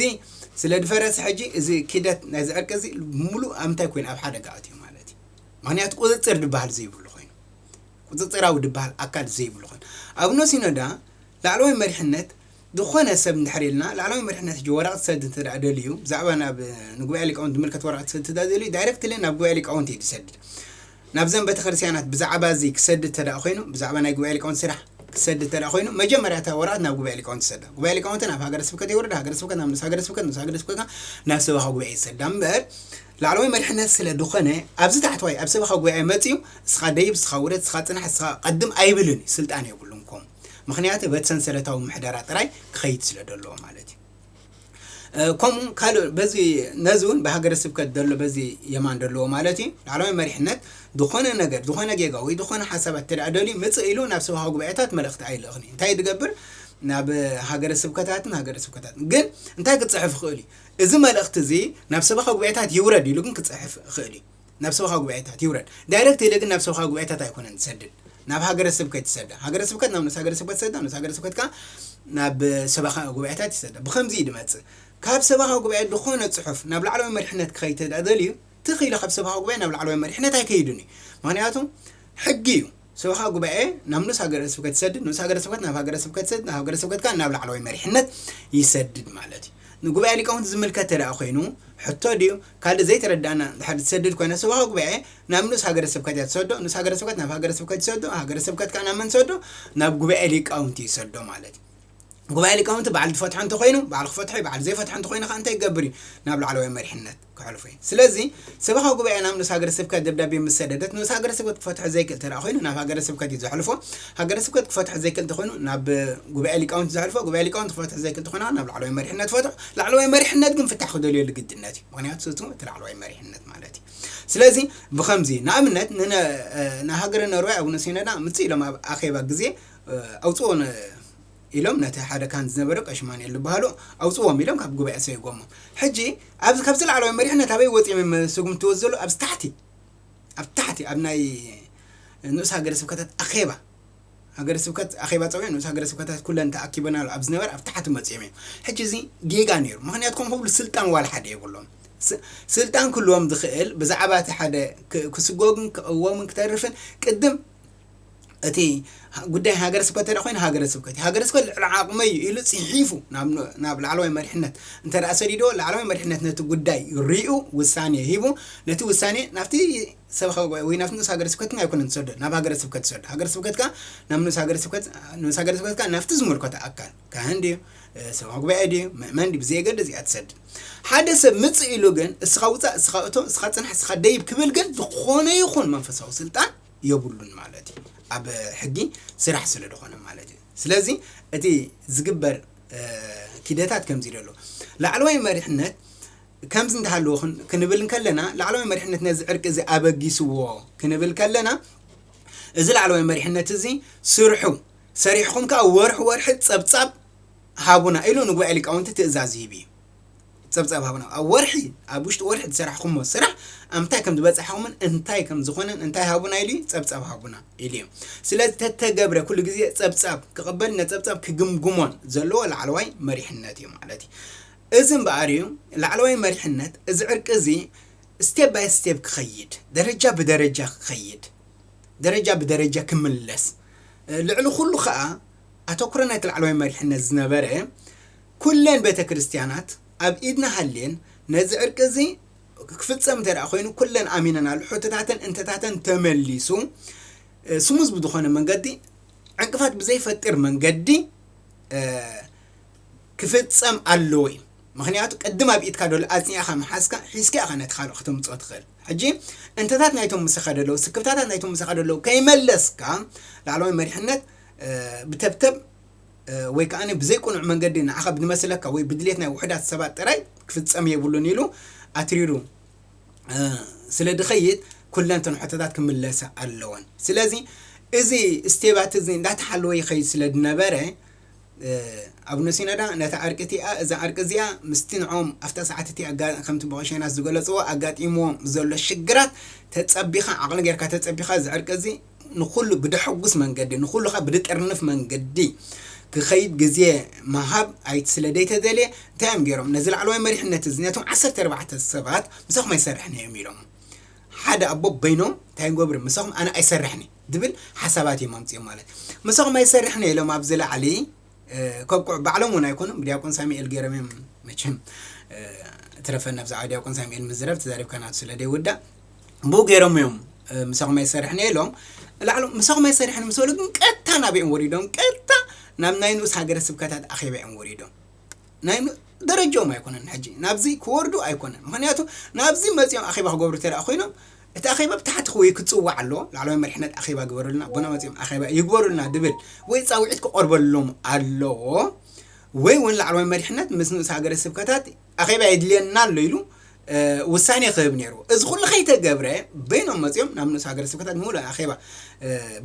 S2: ስለ ዝፈረሰ ሕጂ እዚ ኪደት ናይዚ ዕርቂ እዚ ብምሉእ ኣብ እንታይ ኮይኑ ኣብ ሓደጋ ኣትዩ ማለት እዩ። ምክንያቱ ቁፅፅር ዝበሃል ዘይብሉ ኮይኑ፣ ቁፅፅራዊ ዝበሃል ኣካል ዘይብሉ ኮይኑ፣ ኣቡነ ሲኖዳ ላዕለዋይ መሪሕነት ዝኾነ ሰብ እንድሕር ኢልና ላዕለዋይ መሪሕነት ሕጂ ወረቐት ሰድ እንተድኣ ደልዩ ብዛዕባ ናብ ንጉባኤ ሊቃውንት ዝምልከት ወረቐት ክሰድ እንተድኣ ደልዩ ዳይረክትሊ ናብ ጉባኤ ሊቃውንት እዩ ዝሰድድ ናብዘን ቤተክርስትያናት ብዛዕባ እዚ ክሰድ እንተድኣ ኮይኑ ብዛዕባ ናይ ጉባኤ ሊቃውንት ስራሕ ክሰድ እንተድኣ ኮይኑ መጀመርያ እታ ወረቐት ናብ ጉባኤ ሊቃውንት ይሰዳ ጉባኤ ሊቃውንት ናብ ሃገረ ስብከት የውርዳ ሃገረ ስብከት ናብ ንስ ሃገረ ስብከት ንስ ሃገረ ስብከት ከኣ ናብ ሰበኻ ጉባኤ ይሰዳ እምበር ላዕለዋይ መሪሕነት ስለ ዝኾነ ኣብዚ ታሕተዋይ ኣብ ሰበኻ ጉባኤ መጽዩ እስኻ ደይብ እስኻ ውረድ እስኻ ጽናሕ እስኻ ቀድም ኣይብልን እዩ ስልጣን የብሉን ምኽንያቲ በቲ ሰንሰለታዊ ምሕደራ ጥራይ ክኸይድ ስለ ደለዎ ማለት እዩ። ከምኡ ካልእ በዚ ነዚ እውን ብሃገረ ስብከት ዘሎ በዚ የማን ደለዎ ማለት እዩ ላዕለዋይ መሪሕነት ዝኾነ ነገር ዝኾነ ጌጋ ወይ ዝኾነ ሓሳባት እንተደኣ ደልዩ ምጽእ ኢሉ ናብ ሰብሃዊ ጉባኤታት መልእኽቲ ኣይልእኽን እዩ እንታይ ዝገብር ናብ ሃገረ ስብከታትን ሃገረ ስብከታትን ግን እንታይ ክጽሕፍ ይኽእል እዩ እዚ መልእኽቲ እዚ ናብ ሰብሃዊ ጉባኤታት ይውረድ ኢሉ ግን ክጽሕፍ ይኽእል እዩ ናብ ሰበኻ ጉባኤታት ይውረድ ዳይረክት ኢለ ግን ናብ ሰበኻ ጉባኤታት ኣይኮነን ዝሰድድ ናብ ሃገረ ስብከት ይሰዳ ሃገረ ስብከት ናብ ንኡስ ሃገረ ስብከት ይሰዳ ንኡስ ሃገረ ስብከት ከኣ ናብ ሰበኻ ጉባኤታት ይሰዳ ብከምዚ እዩ ድመጽእ ካብ ሰበኻ ጉባኤ ዝኾነ ጽሑፍ ናብ ላዕለዋይ መሪሕነት ክኸይድ ተደልዩ ትኽ ኢሉ ካብ ሰበኻ ጉባኤ ናብ ላዕለዋይ መሪሕነት ኣይከይድን እዩ ምክንያቱ ሕጊ እዩ ሰበኻ ጉባኤ ናብ ንኡስ ሃገረ ስብከት ይሰድድ፣ ንኡስ ሃገረ ስብከት ናብ ሃገረ ስብከት ይሰድድ፣ ናብ ሃገረ ስብከት ከኣ ናብ ላዕለዋይ መሪሕነት ይሰድድ ማለት እዩ። ንጉባኤ ሊቃውንቲ ዝምልከት ተደኣ ኮይኑ ሕቶ ድዩ ካልእ ዘይተረደኣና እንድሕር ትሰድድ ኮይና ሰበኻ ጉባኤ ናብ ንኡስ ሃገረ ስብከት እያ ትሰዶ፣ ንኡስ ሃገረ ስብከት ናብ ሃገረ ስብከት ይሰዶ፣ ሃገረ ስብከት ከኣ ናብ መን ትሰዶ ናብ ጉባኤ ሊቃውንቲ ይሰዶ ማለት እዩ። ጉባኤ ሊቃውንቲ በዓል ዝፈትሖ እንተኾይኑ በዓል ክፈትሖ እዩ፣ በዓል ዘይፈትሖ እንተኾይኑ ከኣ እንታይ ክገብር እዩ ናብ ላዕለዋይ መሪሕነት ከሕልፉ እዩም። ስለዚ ሰበኻ ጉባኤ ናብ ንኡስ ሃገረ ስብከት ደብዳቤ ምስ ሰደደት ንኡስ ሃገረ ስብከት ክፈትሖ ዘይክእል ተደኣ ኮይኑ ናብ ሃገረ ስብከት እዩ ዘሕልፎ። ሃገረ ስብከት ክፈትሖ ዘይክእል ተኾይኑ ናብ ጉባኤ ሊቃውንቲ ዘሕልፎ። ጉባኤ ሊቃውንቲ ክፈትሖ ዘይክእል ተኾይኑ ከኣ ናብ ላዕለዋይ መሪሕነት ፈትሖ። ላዕለዋይ መሪሕነት ግን ፍታሕ ክደልየሉ ግድነት እዩ። ምክንያቱ እቱ እቲ ላዕለዋይ መሪሕነት ማለት እዩ። ስለዚ ብኸምዚ እዩ። ንኣብነት ንሃገረ ኖርወይ ኣቡነ ሲኖዳ ምጽእ ኢሎም ኣብ ኣኼባ ግዜ ኣውጽኡ ኢሎም ነቲ ሓደ ካህን ዝነበረ ቀሺ ማንኤል ዝበሃሉ ኣውጽዎም ኢሎም ካብ ጉባኤ ሰይጎሞም ሕጂ ኣብዚ ካብዚ ላዕለዋይ መሪሕነት ኣበይ ወጺኦም እዮም ዝስጉምትዎ ዘሎ ኣብዚ ታሕቲ ኣብ ታሕቲ ኣብ ናይ ንኡስ ሃገረ ስብከታት ኣኼባ ሃገረ ስብከት ኣኼባ ጸውዒ ንኡስ ሃገረ ስብከታት ኩለን ተኣኪበናሉ ኣብ ዝነበረ ኣብ ታሕቲ መጺኦም እዮም ሕጂ እዚ ጌጋ ነይሩ ምክንያቱ ከም ክብሉ ስልጣን ዋላ ሓደ የብሎም ስልጣን ክህልዎም ዝኽእል ብዛዕባ እቲ ሓደ ክስጎግን ክቕወምን ክተርፍን ቅድም እቲ ጉዳይ ሃገረ ስብከት እንተ ኮይኑ ሃገረ ስብከት ሃገረ ስብከት ልዕሊ ዓቕመ እዩ ኢሉ ፅሒፉ ናብ ላዕለዋይ መሪሕነት እንተ ሰዲዶ ላዕለዋይ መሪሕነት ነቲ ጉዳይ ሪኡ ውሳኔ ሂቡ ነቲ ውሳኔ ናብቲ ሰበኻ ጉባኤ ወይ ናብቲ ንኡስ ሃገረ ስብከት ኣይኮነን ዝሰዶ ናብ ሃገረ ስብከት ዝሰዶ ሃገረ ስብከትካ ናብ ንኡስ ሃገረ ስብከት ንኡስ ሃገረ ስብከትካ ናብቲ ዝምልከቶ ኣካል ካህን ድዩ ሰበኻ ጉባኤ ድዩ ምእመን ድዩ ብዘየገደ እዚኣ ትሰድድ ሓደ ሰብ ምፅ ኢሉ ግን እስኻ ውፃእ እስኻ እቶ እስኻ ፅናሕ እስኻ ደይብ ክብል ግን ዝኾነ ይኹን መንፈሳዊ ስልጣን የብሉን ማለት እዩ ኣብ ሕጊ ስራሕ ስለ ድኾነ ማለት እዩ ስለዚ እቲ ዝግበር ኪደታት ከምዚ ኢሉ ኣሎ ላዕለዋይ መሪሕነት ከምዚ እንተሃለዎ ክንብል ከለና ላዕለዋይ መሪሕነት ነዚ ዕርቂ እዚ ኣበጊስዎ ክንብል ከለና እዚ ላዕለዋይ መሪሕነት እዚ ስርሑ ሰሪሕኹም ከዓ ወርሒ ወርሒ ፀብፃብ ሃቡና ኢሉ ንጉባኤ ሊቃውንቲ ትእዛዝ ይህብ እዩ ጸብጻብ ሃቡና። ኣብ ወርሒ ኣብ ውሽጢ ወርሒ ዝሰራሕኹሞ ስራሕ ኣብ ምንታይ ከም ዝበጻሕኹምን እንታይ ከም ዝኾነን እንታይ ሃቡና ኢሉ ጸብጻብ ሃቡና ኢሉ እዩ። ስለ ዝተተገብረ ኩሉ ግዜ ጸብጻብ ክቕበል ነጸብጻብ ክግምግሞን ዘለዎ ላዕለዋይ መሪሕነት እዩ ማለት እዩ። እዚ እምበኣር እዩ ላዕለዋይ መሪሕነት እዚ ዕርቂ እዚ ስቴፕ ባይ ስቴፕ ክኸይድ ደረጃ ብደረጃ ክኸይድ ደረጃ ብደረጃ ክምለስ ልዕሊ ኩሉ ከዓ ኣተኩሮ ናይቲ ላዕለዋይ መሪሕነት ዝነበረ ኩለን ቤተ ክርስቲያናት ኣብ ኢድና ሃልየን ነዚ ዕርቂ እዚ ክፍጸም እንተ ኮይኑ ኩለን ኣሚነናሉ ሕቶታተን እንተታተን ተመሊሱ ስሙዝ ብዝኾነ መንገዲ ዕንቅፋት ብዘይፈጥር መንገዲ ክፍጸም ኣለዎ እዩ ምክንያቱ ቅድም ኣብ ኢትካ ዶሎ ኣጽኒዕኻ ምሓዝካ ሒዝካ ኢኻ ነቲ ካልእ ከተምፅኦ ትኽእል ሕጂ እንተታት ናይቶም ምሳኻ ደለዉ ስክፍታታት ናይቶም ምሳኻ ደለዉ ከይመለስካ ላዕለዋይ መሪሕነት ብተብተብ ወይ ከኣ ብዘይ ቅኑዕ መንገዲ ንዓኻ ብዝመስለካ ወይ ብድሌት ናይ ውሑዳት ሰባት ጥራይ ክፍጸም የብሉን ኢሉ ኣትሪሩ ስለ ዝኸይድ ኩለን እተን ሕቶታት ክምለሳ ኣለወን። ስለዚ እዚ ስቴባት እዚ እንዳተሓለወ ይኸይድ ስለ ዝነበረ ኣቡነ ሲኖዳ ነታ ዕርቂ እቲኣ እዛ ዕርቂ እዚኣ ምስቲ ንዕኦም ኣብታ ሰዓት እቲ ከምቲ ብቀሸናት ዝገለፅዎ ኣጋጢምዎም ዘሎ ሽግራት ተፀቢኻ ዓቕሊ ጌርካ ተፀቢኻ እዚ ዕርቂ እዚ ንኹሉ ብደሐጉስ መንገዲ ንኹሉ ከኣ ብድጥርንፍ መንገዲ ክኸይድ ግዜ ምሃብ ኣይት ስለ ደይተደልየ እንታይ እዮም ገይሮም ነዚ ላዕለዋይ መሪሕነት እዚ ነቶም ዓሰርተ ኣርባዕተ ሰባት ምሳኹም ኣይሰርሕን እየ እዮም ኢሎሞም ሓደ ኣቦ በይኖም እንታይ ንገብር ምሳኹም ኣነ ኣይሰርሕን ድብል ሓሳባት እዮም ኣምጺኦም ማለት ምሳኹም ኣይሰርሕን እየ ኢሎም ኣብዚ ላዕሊ ከብቅዑ ባዕሎም እውን ኣይኮኑን ብድያቆን ሳሚኤል ገይሮም እዮም መቸም ትረፈና ብዛዕባ ድያቆን ሳሚኤል ምዝረብ ተዛሪብካ ናቱ ስለ ደይውዳእ ብኡ ገይሮም እዮም ምሳኹም ኣይሰርሕን እየ ኢሎም ላዕሎ ምሳኹም ኣይሰርሕን ምስ በሉ ግን ቀጥታ ናበኦም ወሪዶም ቀጥታ ናብ ናይ ንኡስ ሃገረ ስብከታት ኣኼባ እዮም ወሪዶም ናይ ደረጅኦም ኣይኮነን ሕጂ ናብዚ ክወርዱ ኣይኮነን ምክንያቱ ናብዚ መጺኦም ኣኼባ ክገብሩ ተደኣ ኮይኖም እቲ ኣኼባ ብታሕቲ ክወይ ክጽዋዕ ኣለዎ ላዕለዋይ መሪሕነት ኣኼባ ግበሩልና ኣቦና መጺኦም ኣኼባ ይግበሩልና ድብል ወይ ጻውዒት ክቐርበሎም ኣለዎ ወይ እውን ላዕለዋይ መሪሕነት ምስ ንኡስ ሃገረ ስብከታት ኣኼባ የድልየና ኣሎ ኢሉ ውሳኔ ክህብ ነይሩ እዚ ኩሉ ከይተገብረ በይኖም መጺኦም ናብ ንኡስ ሃገረ ስብከታት ምሉእ ኣኼባ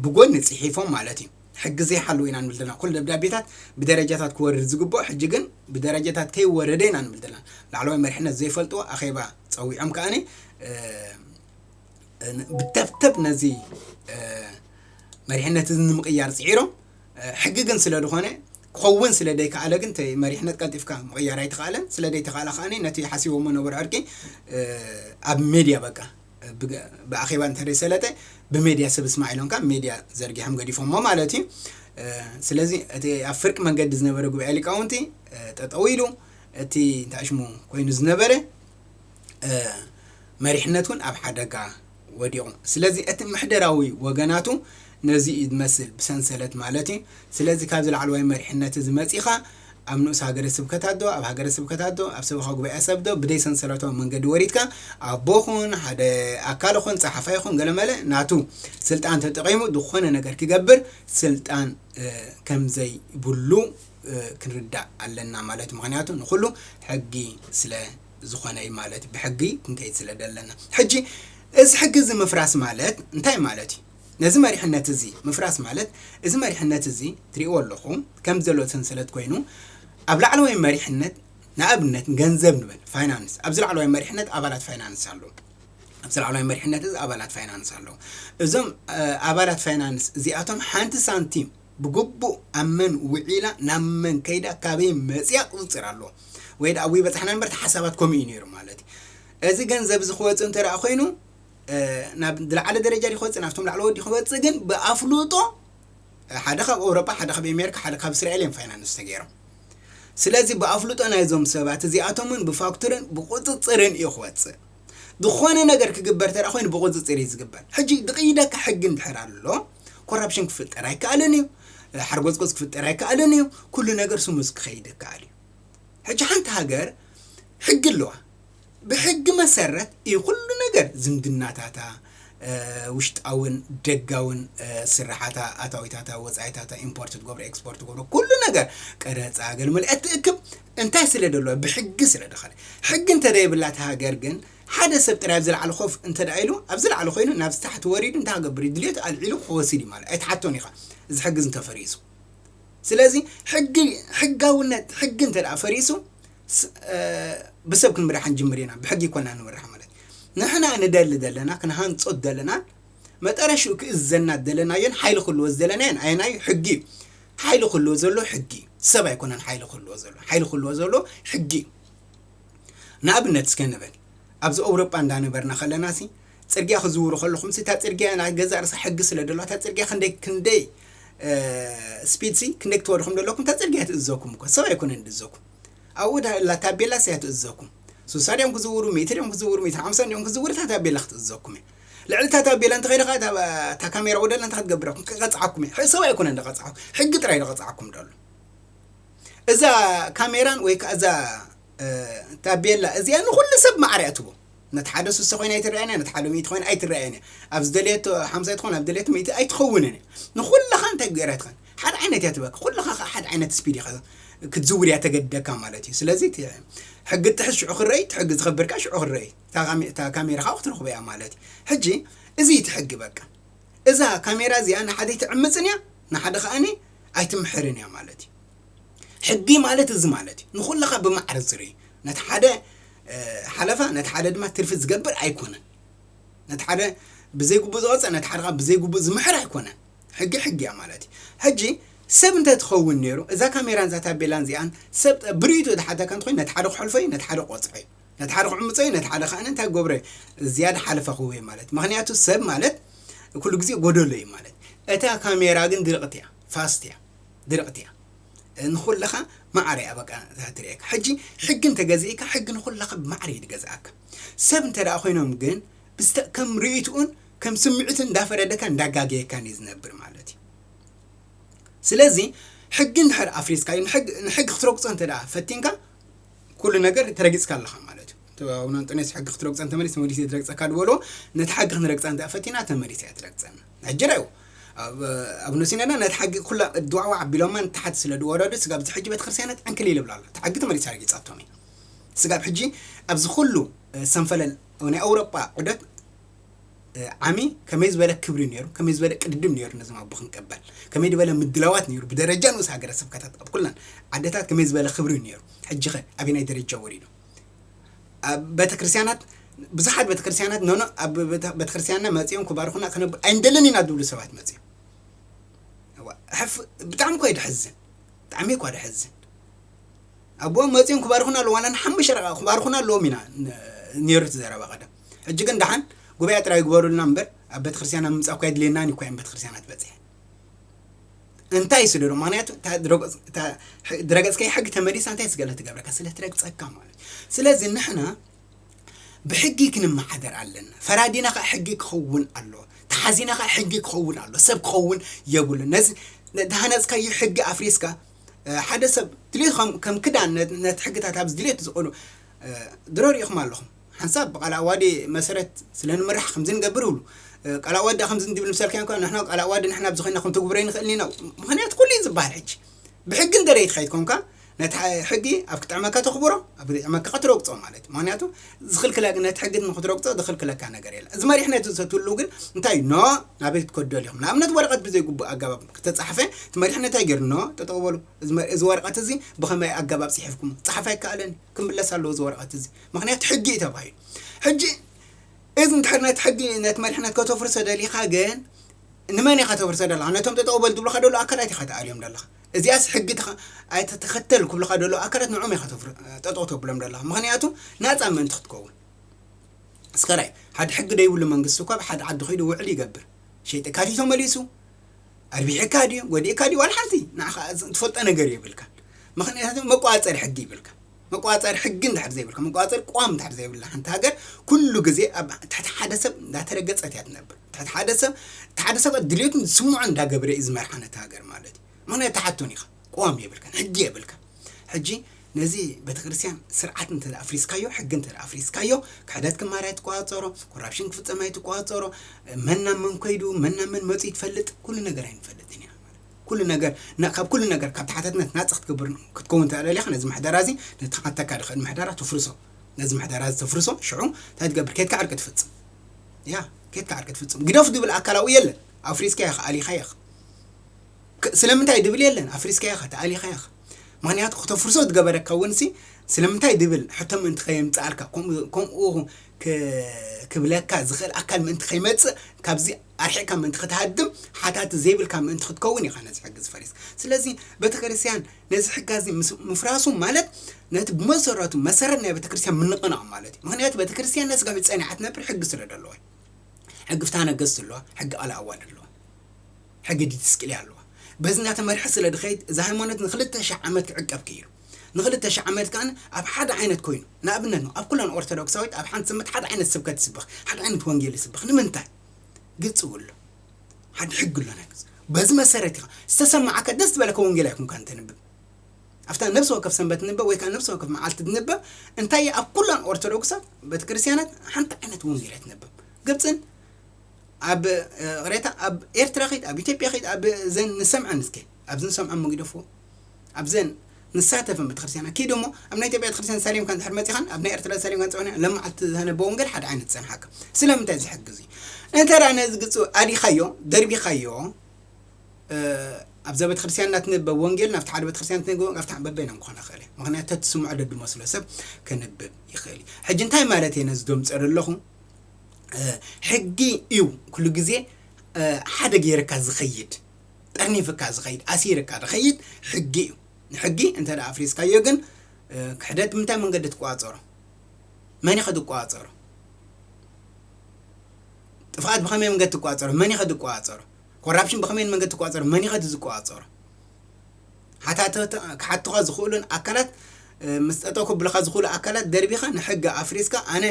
S2: ብጎኒ ጽሒፎም ማለት እዩ ሕጊ ዘይሓለወ ኢና ንብል ዘለና። ኩሉ ደብዳቤታት ብደረጃታት ክወርድ ዝግበኦ ሕጂ ግን ብደረጃታት ከይወረደ ኢና ንብል ዘለና። ላዕለዋይ መሪሕነት ዘይፈልጥዎ ኣኼባ ጸዊዖም ከኣ ብተብተብ ነዚ መሪሕነት እዚ ንምቕያር ጽዒሮም ሕጊ ግን ስለ ዝኾነ ክኸውን ስለ ዘይከኣለ ግን መሪሕነት ቀልጢፍካ ምቕያር ኣይተኸኣለን ስለ ዘይተኸኣለ ከኣ ነቲ ሓሲቦሞ ነበሩ ዕርቂ ኣብ ሜድያ በቃ ብኣኼባ እንተደይሰለጠ ብሜድያ ሰብ እስማዕ ኢሎም ካብ ሜድያ ዘርጊሖም ገዲፎሞ ማለት እዩ ስለዚ እቲ ኣብ ፍርቂ መንገዲ ዝነበረ ጉባኤ ሊቃውንቲ ጠጠው ኢሉ እቲ እንታይ ሽሙ ኮይኑ ዝነበረ መሪሕነት እውን ኣብ ሓደጋ ወዲቑ ስለዚ እቲ ምሕደራዊ ወገናቱ ነዚ እዩ ዝመስል ብሰንሰለት ማለት እዩ። ስለዚ ካብዚ ላዕለዋይ መሪሕነት እዚ መጺኻ ኣብ ንኡስ ሃገረ ስብከታት ዶ ኣብ ሃገረ ስብከታት ዶ ኣብ ሰበኻ ጉባኤ ሰብ ዶ ብደይ ሰንሰለታዊ መንገዲ ወሪድካ ኣቦ ኹን ሓደ ኣካል ኹን ጸሓፋይ ኹን ገለመለ ናቱ ስልጣን ተጠቒሙ ዝኾነ ነገር ክገብር ስልጣን ከምዘይብሉ ክንርዳእ ኣለና ማለት እዩ። ምክንያቱ ንኹሉ ሕጊ ስለ ዝኾነ እዩ ማለት ብሕጊ ክንከይድ ስለ ዘለና ሕጂ እዚ ሕጊ እዚ ምፍራስ ማለት እንታይ ማለት እዩ? ነዚ መሪሕነት እዚ ምፍራስ ማለት እዚ መሪሕነት እዚ ትሪእዎ ኣለኹም ከምዚ ዘሎ ሰንሰለት ኮይኑ ኣብ ላዕለዋይ መሪሕነት ንኣብነት ገንዘብ ንበል ፋይናንስ ኣብዚ ላዕለዋይ መሪሕነት ኣባላት ፋይናንስ ኣለዉ ኣብዚ ላዕለዋይ መሪሕነት እዚ ኣባላት ፋይናንስ ኣለዉ እዞም ኣባላት ፋይናንስ እዚኣቶም ሓንቲ ሳንቲም ብግቡእ ኣብ መን ውዒላ ናብ መን ከይዳ ካበይ መፅያ ቁፅፅር ኣለዎ ወይ ደኣ ኣብይ በፃሕና እምበር እቲ ሓሳባት ከምኡ እዩ ነይሩ ማለት እዩ እዚ ገንዘብ እዚ ክወፅእ እንተደኣ ኮይኑ ናብ ዝለዓለ ደረጃ ድዩ ክወጽእ ናብቶም ላዕለዎት ድዩ ክወጽእ ግን ብኣፍልጦ ሓደ ካብ ኣውሮጳ ሓደ ካብ ኣሜሪካ ሓደ ካብ እስራኤል እዮም ፋይናንስ ተገይሮም ስለዚ ብኣፍልጦ ናይዞም ሰባት እዚኣቶም እውን ብፋክቱርን ብቁፅፅርን እዩ ክወፅእ ዝኾነ ነገር ክግበር ተራ ኮይኑ ብቁፅፅር እዩ ዝግበር ሕጂ ድቕይደካ ሕጊ እንድሕር ኣሎ ኮራፕሽን ክፍጠር ኣይከኣልን እዩ ሓርጎፅጎፅ ክፍጠር ኣይከኣልን እዩ ኩሉ ነገር ስሙዝ ክኸይድ ይከኣል እዩ ሕጂ ሓንቲ ሃገር ሕጊ ኣለዋ ብሕጊ መሰረት እዩ ኩሉ ነገር ዝምድናታታ ውሽጣዊን ደጋዊን ስርሓታ ኣታዊታታ ወጻኢታታ ኢምፖርት ትገብሮ ኤክስፖርት ትገብሮ ኩሉ ነገር ቀረጻ ገልመለ እትእክብ እንታይ ስለ ደለዋ ብሕጊ ስለ ደኸለ ሕጊ እንተ ዘይብላ እታ ሃገር ግን ሓደ ሰብ ጥራይ ኣብ ዝለዓለ ኮፍ እንተ ደኣ ኢሉ ኣብ ዝለዓለ ኮይኑ ናብ ዝታሕቲ ወሪዱ እንታይ ክገብር እዩ ድልየቱ ኣልዒሉ ክወስድ እዩ ማለት ኣይትሓቶን ኢኻ እዚ ሕጊ እንተፈሪሱ ስለዚ ሕጊ ሕጋውነት ሕጊ እንተ ደኣ ፈሪሱ ብሰብ ክንምራሕ ክንጅምር ኢና ብሕጊ ኣይኮናን ንመርሕ ማለት ንሕና ንደሊ ዘለና ክንሃንጾ ዝደለናን መጠረሽኡ ክእዘና ዝደለናዮን ሓይሊ ክህልዎ ዝደለናዮን ኣየናዩ ሕጊ እዩ ሓይሊ ክህልዎ ዘሎ ሕጊ ሰብ ኣይኮነን ሓይሊ ክህልዎ ዘሎ ሓይሊ ክህልዎ ዘሎ ሕጊ ንኣብነት እስከ ንበል ኣብዚ ኣውሮጳ እንዳነበርና ከለና ሲ ጽርግያ ክትዝውሩ ከለኹምሲ እታ ጽርግያ ናይ ገዛእ ርእሳ ሕጊ ስለ ዘለዋ እታ ጽርግያ ክንደይ ክንደይ ስፒድሲ ክንደይ ክትወዱ ከም ዘለኩም እታ ጽርግያ ትእዘኩም እኮ ሰብ ኣይኮነን ድእዘኩም ኣብኡ ዳላ ታቤላስ እያ ትእዘኩም ስሳ ድዮም ክዝውሩ ሚእቲ ድዮም ክዝውሩ ሚእቲ ሓምሳ ድዮም ክዝውሩ እታ ታቤላ ክትእዘኩም እያ ልዕሊ እታ ታቤላ እንተኸይደ ከዓ እታ ካሜራ ወደላ እንታይ ክትገብረኩም ክቐፅዓኩም እያ ሰብ ኣይኮነን ዝቐፅዓኩም ሕጊ ጥራይ ዝቐፅዓኩም ደሎ እዛ ካሜራን ወይ ከዓ እዛ ታቤላ እዚኣ ንኩሉ ሰብ ማዕረ እያ ትቦ ነቲ ሓደ ስሳ ኮይና ኣይትረኣየን እያ፣ ነቲ ሓደ ሚእቲ ኮይና ኣይትረኣየን እያ፣ ኣብ ዝደለየቶ ሓምሳ ትኾን ኣብ ዝደለየቶ ሚእቲ ኣይትኸውንን እያ። ንኹልኻ እንታይ ገይራ ትኸን ሓደ ዓይነት እያ ትበካ፣ ኩልኻ ከኣ ሓደ ዓይነት ስፒድ ኢኻ ክትዝውር እያ ተገድደካ ማለት እዩ። ስለዚ እቲ ሕጊ ጥሕስ ሽዑ ክረአ እዩ፣ እቲ ሕጊ ዝኸብር ከኣ ሽዑ ክረአ እዩ። እታ ካሜ- እታ ካሜራ ከኣ ክትረኽቦ እያ ማለት እዩ። ሕጂ እዚ እቲ ሕጊ በቃ እዛ ካሜራ እዚኣ ንሓደ ኣይትዕምጽን እያ፣ ንሓደ ከኣኒ ኣይትምሕርን እያ ማለት እዩ። ሕጊ ማለት እዚ ማለት እዩ። ንኹልኻ ብማዕረ ዝርኢ ነቲ ሓደ ሓለፋ ነቲ ሓደ ድማ ትርፊ ዝገብር ኣይኮነን። ነቲ ሓደ ብዘይግቡእ ዝቐፅዕ ነቲ ሓደ ብዘይግቡእ ዝምሕር ኣይኮነን። ሕጊ ሕጊ እያ ማለት እዩ። ሕጂ ሰብ እንተትኸውን ነይሩ እዛ ካሜራን እዛ ታቤላን እዚኣን ሰብ ብርእቱ ዝሓተካ እንተኮይኑ ነቲ ሓደ ክሐልፎ እዩ ነቲ ሓደ ቆፅዐ እዩ ነቲ ሓደ ክዕምፆ እዩ ነቲ ሓደ ከዓ እንታይ ክገብሮ እዩ ዝያዳ ሓለፋ ክህቦ እዩ ማለት ምክንያቱ ሰብ ማለት ኩሉ ግዜ ጎደሎ እዩ ማለት እታ ካሜራ ግን ድርቕት እያ ፋስት እያ ድርዕት እያ ንኩልካ ማዕረ እያ በቃ እዛ ትርእየካ ሕጂ ሕጊ እንተ ገዚኢካ ሕጊ ንኩላካ ብማዕረ እዩ ዝገዝኣካ ሰብ እንተ ኮይኖም ግን ብዝተ ከም ርእይትኡን ከም ስምዒቱን እንዳፈረደካን እንዳጋገየካን እዩ ዝነብር ማለት እዩ ስለዚ ሕጊ እንድሕር ኣፍሪስካዮ ንሕጊ ክትረግፆ እንተ ፈቲንካ ኩሉ ነገር ተረጊፅካ ኣለኻ ማለት እዩ ኣብ ኣንጦንዮስ ሕጊ ክትረግፆ እንተመሊስ ተመሊሰ ዝረግፀካ ዝበልዎ ነቲ ሕጊ ክንረግፃ እንተ ፈቲና ተመሊሰ እያ ትረግፀና ሕጂ ርኣዩ፣ ኣቡነ ሲኖዳ ነታ ሕጊ ኩላ እድዋዕዋዕ ኣቢሎማ ንታሕቲ ስለ ዝወረዱ፣ ስጋብ እዚ ሕጂ ቤተክርስትያናት ዕንክሊል ይብላ ኣሎ። እታ ሕጊ ተመሊሳ ረጊጻቶም እያ። ስጋብ ሕጂ ኣብዚ ኩሉ ሰንፈለል ናይ ኣውሮጳ ዑደት ዓሚ ከመይ ዝበለ ክብሪ ነይሩ፣ ከመይ ዝበለ ቅድድም ነይሩ ነዞም ኣቦ ክንቀበል፣ ከመይ ዝበለ ምድላዋት ነይሩ ብደረጃ ንኡስ ሃገረ ስብከታት ኣብ ኩለን ዓድታት ከመይ ዝበለ ክብሪ ነይሩ፣ ሕጂኸ ኣበየናይ ደረጃ ወሪዱ? ኣብ ቤተክርስትያናት ብዙሓት ቤተክርስትያናት ኖኖ ኣብ ቤተክርስትያንና መፂኦም ክባርኹና ክነብ ኣይንደልን ኢና ዝብሉ ሰባት መፂኦም ሕፍ ብጣዕሚ እኮ የድሕዝን ብጣዕሚ እኳ ደሕዝን ኣቦኦም መፂኦም ክባርኹና ኣለዎ ዋላ ንሓሙሽተ ረቃ ክባርኹና ኣለዎም ኢና ነይሩ እቲ ዘረባ ቀደም ሕጂ ግን ደሓን ጉባኤ ጥራይ ግበሩልና እምበር ኣብ ቤተክርስትያና ምምፃእ እኳ የድልየናን እኳ እዮም ቤተክርስትያናት በፂሐን እንታይ እዩ ስደዶ ማንያቱ ድረገፅ ከይ ሕጊ ተመሊሳ እንታይ ስገለ ትገብረካ ስለ ትረግፀካ ማለት ስለዚ ንሕና ብሕጊ ክንመሓደር ኣለና ፈራዲና ከዓ ሕጊ ክኸውን ኣሎ ተሓዚና ከዓ ሕጊ ክኸውን ኣሎ ሰብ ክኸውን የብሉ ነዚ ድሃነፅካዮ ሕጊ ኣፍሪስካ ሓደ ሰብ ድልዩ ከም ክዳን ነቲ ሕግታት ኣብዚ ድልት ዝቕሉ ድሮ ሪኢኹም ኣለኹም ሓንሳብ ብቃል ኣዋዲ መሰረት ስለ ንምራሕ ከምዚ ንገብር ይብሉ። ቃል ኣዋዲ ድኣ ከምዚ እንዲብል ምሰልካ እንኳ ንሕና ቃል ኣዋዲ ንሕና ኣብዚ ኮይና ክንትግብሮ ኣይንክእልን ኢና ምክንያቱ ኩሉ እዩ ዝብሃል ሕጂ ብሕጊ እንተ ደይ ተከይድኮንካ ነቲ ሕጊ ኣብ ክጥዕመካ ተክብሮ ኣብ ዘይጥዕመካ ክትረግጾ ማለት ምክንያቱ ዝክልክለ ነቲ ሕጊ ንክትረግጾ ዝክልክለካ ነገር የለ እዚ መሪሕነት እዚ ትህሉ ግን እንታይ እዩ ኖ ናበይ ክትከዱ ደሊኹም ንኣብነት ወረቀት ብዘይግቡእ ኣገባብ ክተጻሕፈ እቲ መሪሕነት እንታይ ገይሩ ኖ ጠጠው በሉ እዚ ወረቀት እዚ ብከመይ ኣገባብ ጽሒፍኩም ጻሓፍ ኣይከኣለን ክምለስ ኣለዎ እዚ ወረቀት እዚ ምክንያት ሕጊ እዩ ተባሂሉ ሕጂ እዚ እንድሕር ነቲ ሕጊ ነቲ መሪሕነት ከተፍርሶ ደሊኻ ግን ንመን ኢኻ ተፍርሶ ደለኻ ነቶም ጠጠው በል ዝብሉኻ ደሎ ኣካላት ኢኻ ተኣልዮም ደለኻ እዚኣስ ሕጊ ኣይተተኸተል ክብልኻ ደሎ ኣካላት ንዑም ኢኻ ጠጠው ተብሎም ደለኻ ምክንያቱ ናፃ ምእንቲ ክትከውን እስከራይ ሓደ ሕጊ ደይብሉ መንግስቲ እኳ ብሓደ ዓዲ ከይዱ ውዕል ይገብር ሸይጥካ ድዩ ተመሊሱ ኣርቢሕካ ድዩ ጎዲእካ ድዩ ዋላ ሓንቲ ንዓኻ ትፈልጦ ነገር የብልካ ምክንያቱ መቋፀሪ ሕጊ ይብልካ መቋፀሪ ሕጊ እንድሕር ዘይብልካ፣ መቋፀሪ ቅዋም እንድሕር ዘይብላ ሓንቲ ሃገር ኩሉ ግዜ ኣብ ትሕቲ ሓደ ሰብ እንዳተረገፀት እያ ትነብር። ትሕቲ ሓደ ሰብ እቲ ሓደ ሰብኣይ ድሌቱን ዝስምዖን እንዳገበረ እዩ ዝመርሓ ነታ ሃገር ማለት እዩ። ምኽንያቱ ትሓቶን ኢኻ ቅዋም የብልካን ሕጊ የብልካን። ሕጂ ነዚ ቤተክርስትያን ስርዓት እንተ ኣፍሪስካዮ ሕጊ እንተ ኣፍሪስካዮ ክሕደት ክማር ኣይትቆፃፀሮ፣ ኮራፕሽን ክፍፀም ኣይትቆፃፀሮ፣ መን ናብ መን ከይዱ መን ናብ መን መፂኡ ትፈልጥ ኩሉ ነገር ኣይንፈልጥን ኢና። ኩሉ ነገር ን ካብ ኩሉ ነገር ካብ ተሓታትነት ናጻ ክትገብር ክትከውን ተደሊኻ ነዚ ምሕደራ እዚ ነቲ ክዓተካ ድኽእል ምሕደራ ተፍርሶ ነዚ ምሕደራ እዚ ተፍርሶ ሽዑ እንታይ ትገብር ኬድካ ዕርቂ ትፍጽም ያ ኬድካ ዕርቂ ትፍጽም ግደፉ ድብል ኣካል ኣብኡ የለን ኣፍሪስካ ኢኻ ኣሊኻ ኢኻ ስለምንታይ ድብል የለን ኣፍሪስካ ኢኻ ተኣሊኻ ኢኻ ምክንያቱ ክተፍርሶ ዝገበረካ እውን ሲ ስለምንታይ ድብል ሕቶ ምእንቲ ከየምጽኣልካ ከምኡ ክብለካ ዝኽእል ኣካል ምእንቲ ከይመጽእ ካብዚ ኣርሒቅካ ምእንቲ ክትሃድም ሓታቲ ዘይብልካ ምእንቲ ክትከውን ኢካ ነዚ ሕጊ እዚ ፈሪስካ ስለዚ ቤተክርስትያን ነዚ ሕጊ ኣዚ ምስ ምፍራሱ ማለት ነቲ ብመሰረቱ መሰረት ናይ ቤተክርስትያን ምንቕናቅ ማለት እዩ ምክንያቱ ቤተክርስትያን ነዚ ጋብ ጸኒዓ ትነብር ሕጊ ስለ ደለዋ እዩ ሕጊ ፍትሃ ነገስት ኣለዋ ሕጊ ቃል ኣዋልድ ኣለዋ ሕጊ ዲትስቅልያ ኣለዋ በዚ እናተመርሐ ስለ ድኸይድ እዚ ሃይማኖት ንክልተ ሽሕ ዓመት ክዕቀብ ክኢሉ ንክልተ ሽሕ ዓመት ከዓ ኣብ ሓደ ዓይነት ኮይኑ ንኣብነት ኣብ ኩለን ኦርቶዶክሳዊት ኣብ ሓንቲ ስምት ሓደ ዓይነት ስብከት ይስበኽ ሓደ ዓይነት ወንጌል ይስበኽ ንምንታይ ግልፂ ውሎ ሓደ ሕጊ ኣሎ ናይ መጽ- በዚ መሰረት ኢኻ ዝተሰማዓካ ደስ ዝበለካ ወንጌል ኣይኩንካ እንተንብብ ኣብታ ነብሲ ወከፍ ሰንበት ንበብ ወይ ከዓ ነብሲ ወከፍ መዓልቲ ትንበብ እንታይ እያ ኣብ ኩላን ኦርቶዶክሳት ቤተ ክርስቲያናት ሓንቲ ዓይነት ወንጌል እያ ትንበብ ግብፅን ኣብ እ፣ ቅሬታ ኣብ ኤርትራ ኸይድ ኣብ ኢትዮጵያ ኸይድ ኣብ ዘን ንሰምዐን እስከ ኣብዚ ንሰምዐን መጊደፎ ኣብዘን ንሳተፈን ቤተክርስትያናት ኪድ እሞ ኣብ ናይ ኢትዮጵያ ቤተክርስትያን ተሳሊምካ እንድሕር መጺኻን ኣብ ናይ ኤርትራ ተሳሊምካ እንጽበን ለማዓልቲ ዝተነበ ወንጌል ሓደ ዓይነት ዝጸንሓካ ስለምንታይ እዚ ሕጊ እዚ እንተ ነዚ ግጽ ኣዲኻዮ ደርቢኻዮ ኣብዛ ቤተክርስትያን እናትንበብ ወንጌል ናብቲ ሓደ ቤተክርስትያን ትንግብ ካብታ በበይኖም ክኾን ይኽእል እዩ ምክንያቱ ተትስምዖ ደድመስሎ ሰብ ክንብብ ይኽእል እዩ ሕጂ እንታይ ማለት እየ ነዚ ደምፀ ዘለኹ ሕጊ እዩ ኩሉ ግዜ ሓደ ገይርካ ዝኸይድ ጠርኒፍካ ዝኸይድ ኣሲርካ ዝኸይድ ሕጊ እዩ ንሕጊ እንተ ኣፍሪስካዮ ግን ክሕደት ብምንታይ መንገዲ ትቆፃፀሮ መን ኢኸ ዝቆፃፀሮ ጥፍኣት ብኸመይ መንገዲ ትቆፃፀሮ መን ኢኸ ዝቆፃፀሮ ኮራፕሽን ብኸመይ መንገዲ ትቆፃፀሮ መን ኢኸ ዝቆፃፀሮ ሃታትታ ክሓቱኻ ዝኽእሉን ኣካላት ምስ ጠጠው ክብሉኻ ዝኽእሉ ኣካላት ደርቢኻ ንሕጊ ኣፍሪስካ ኣነ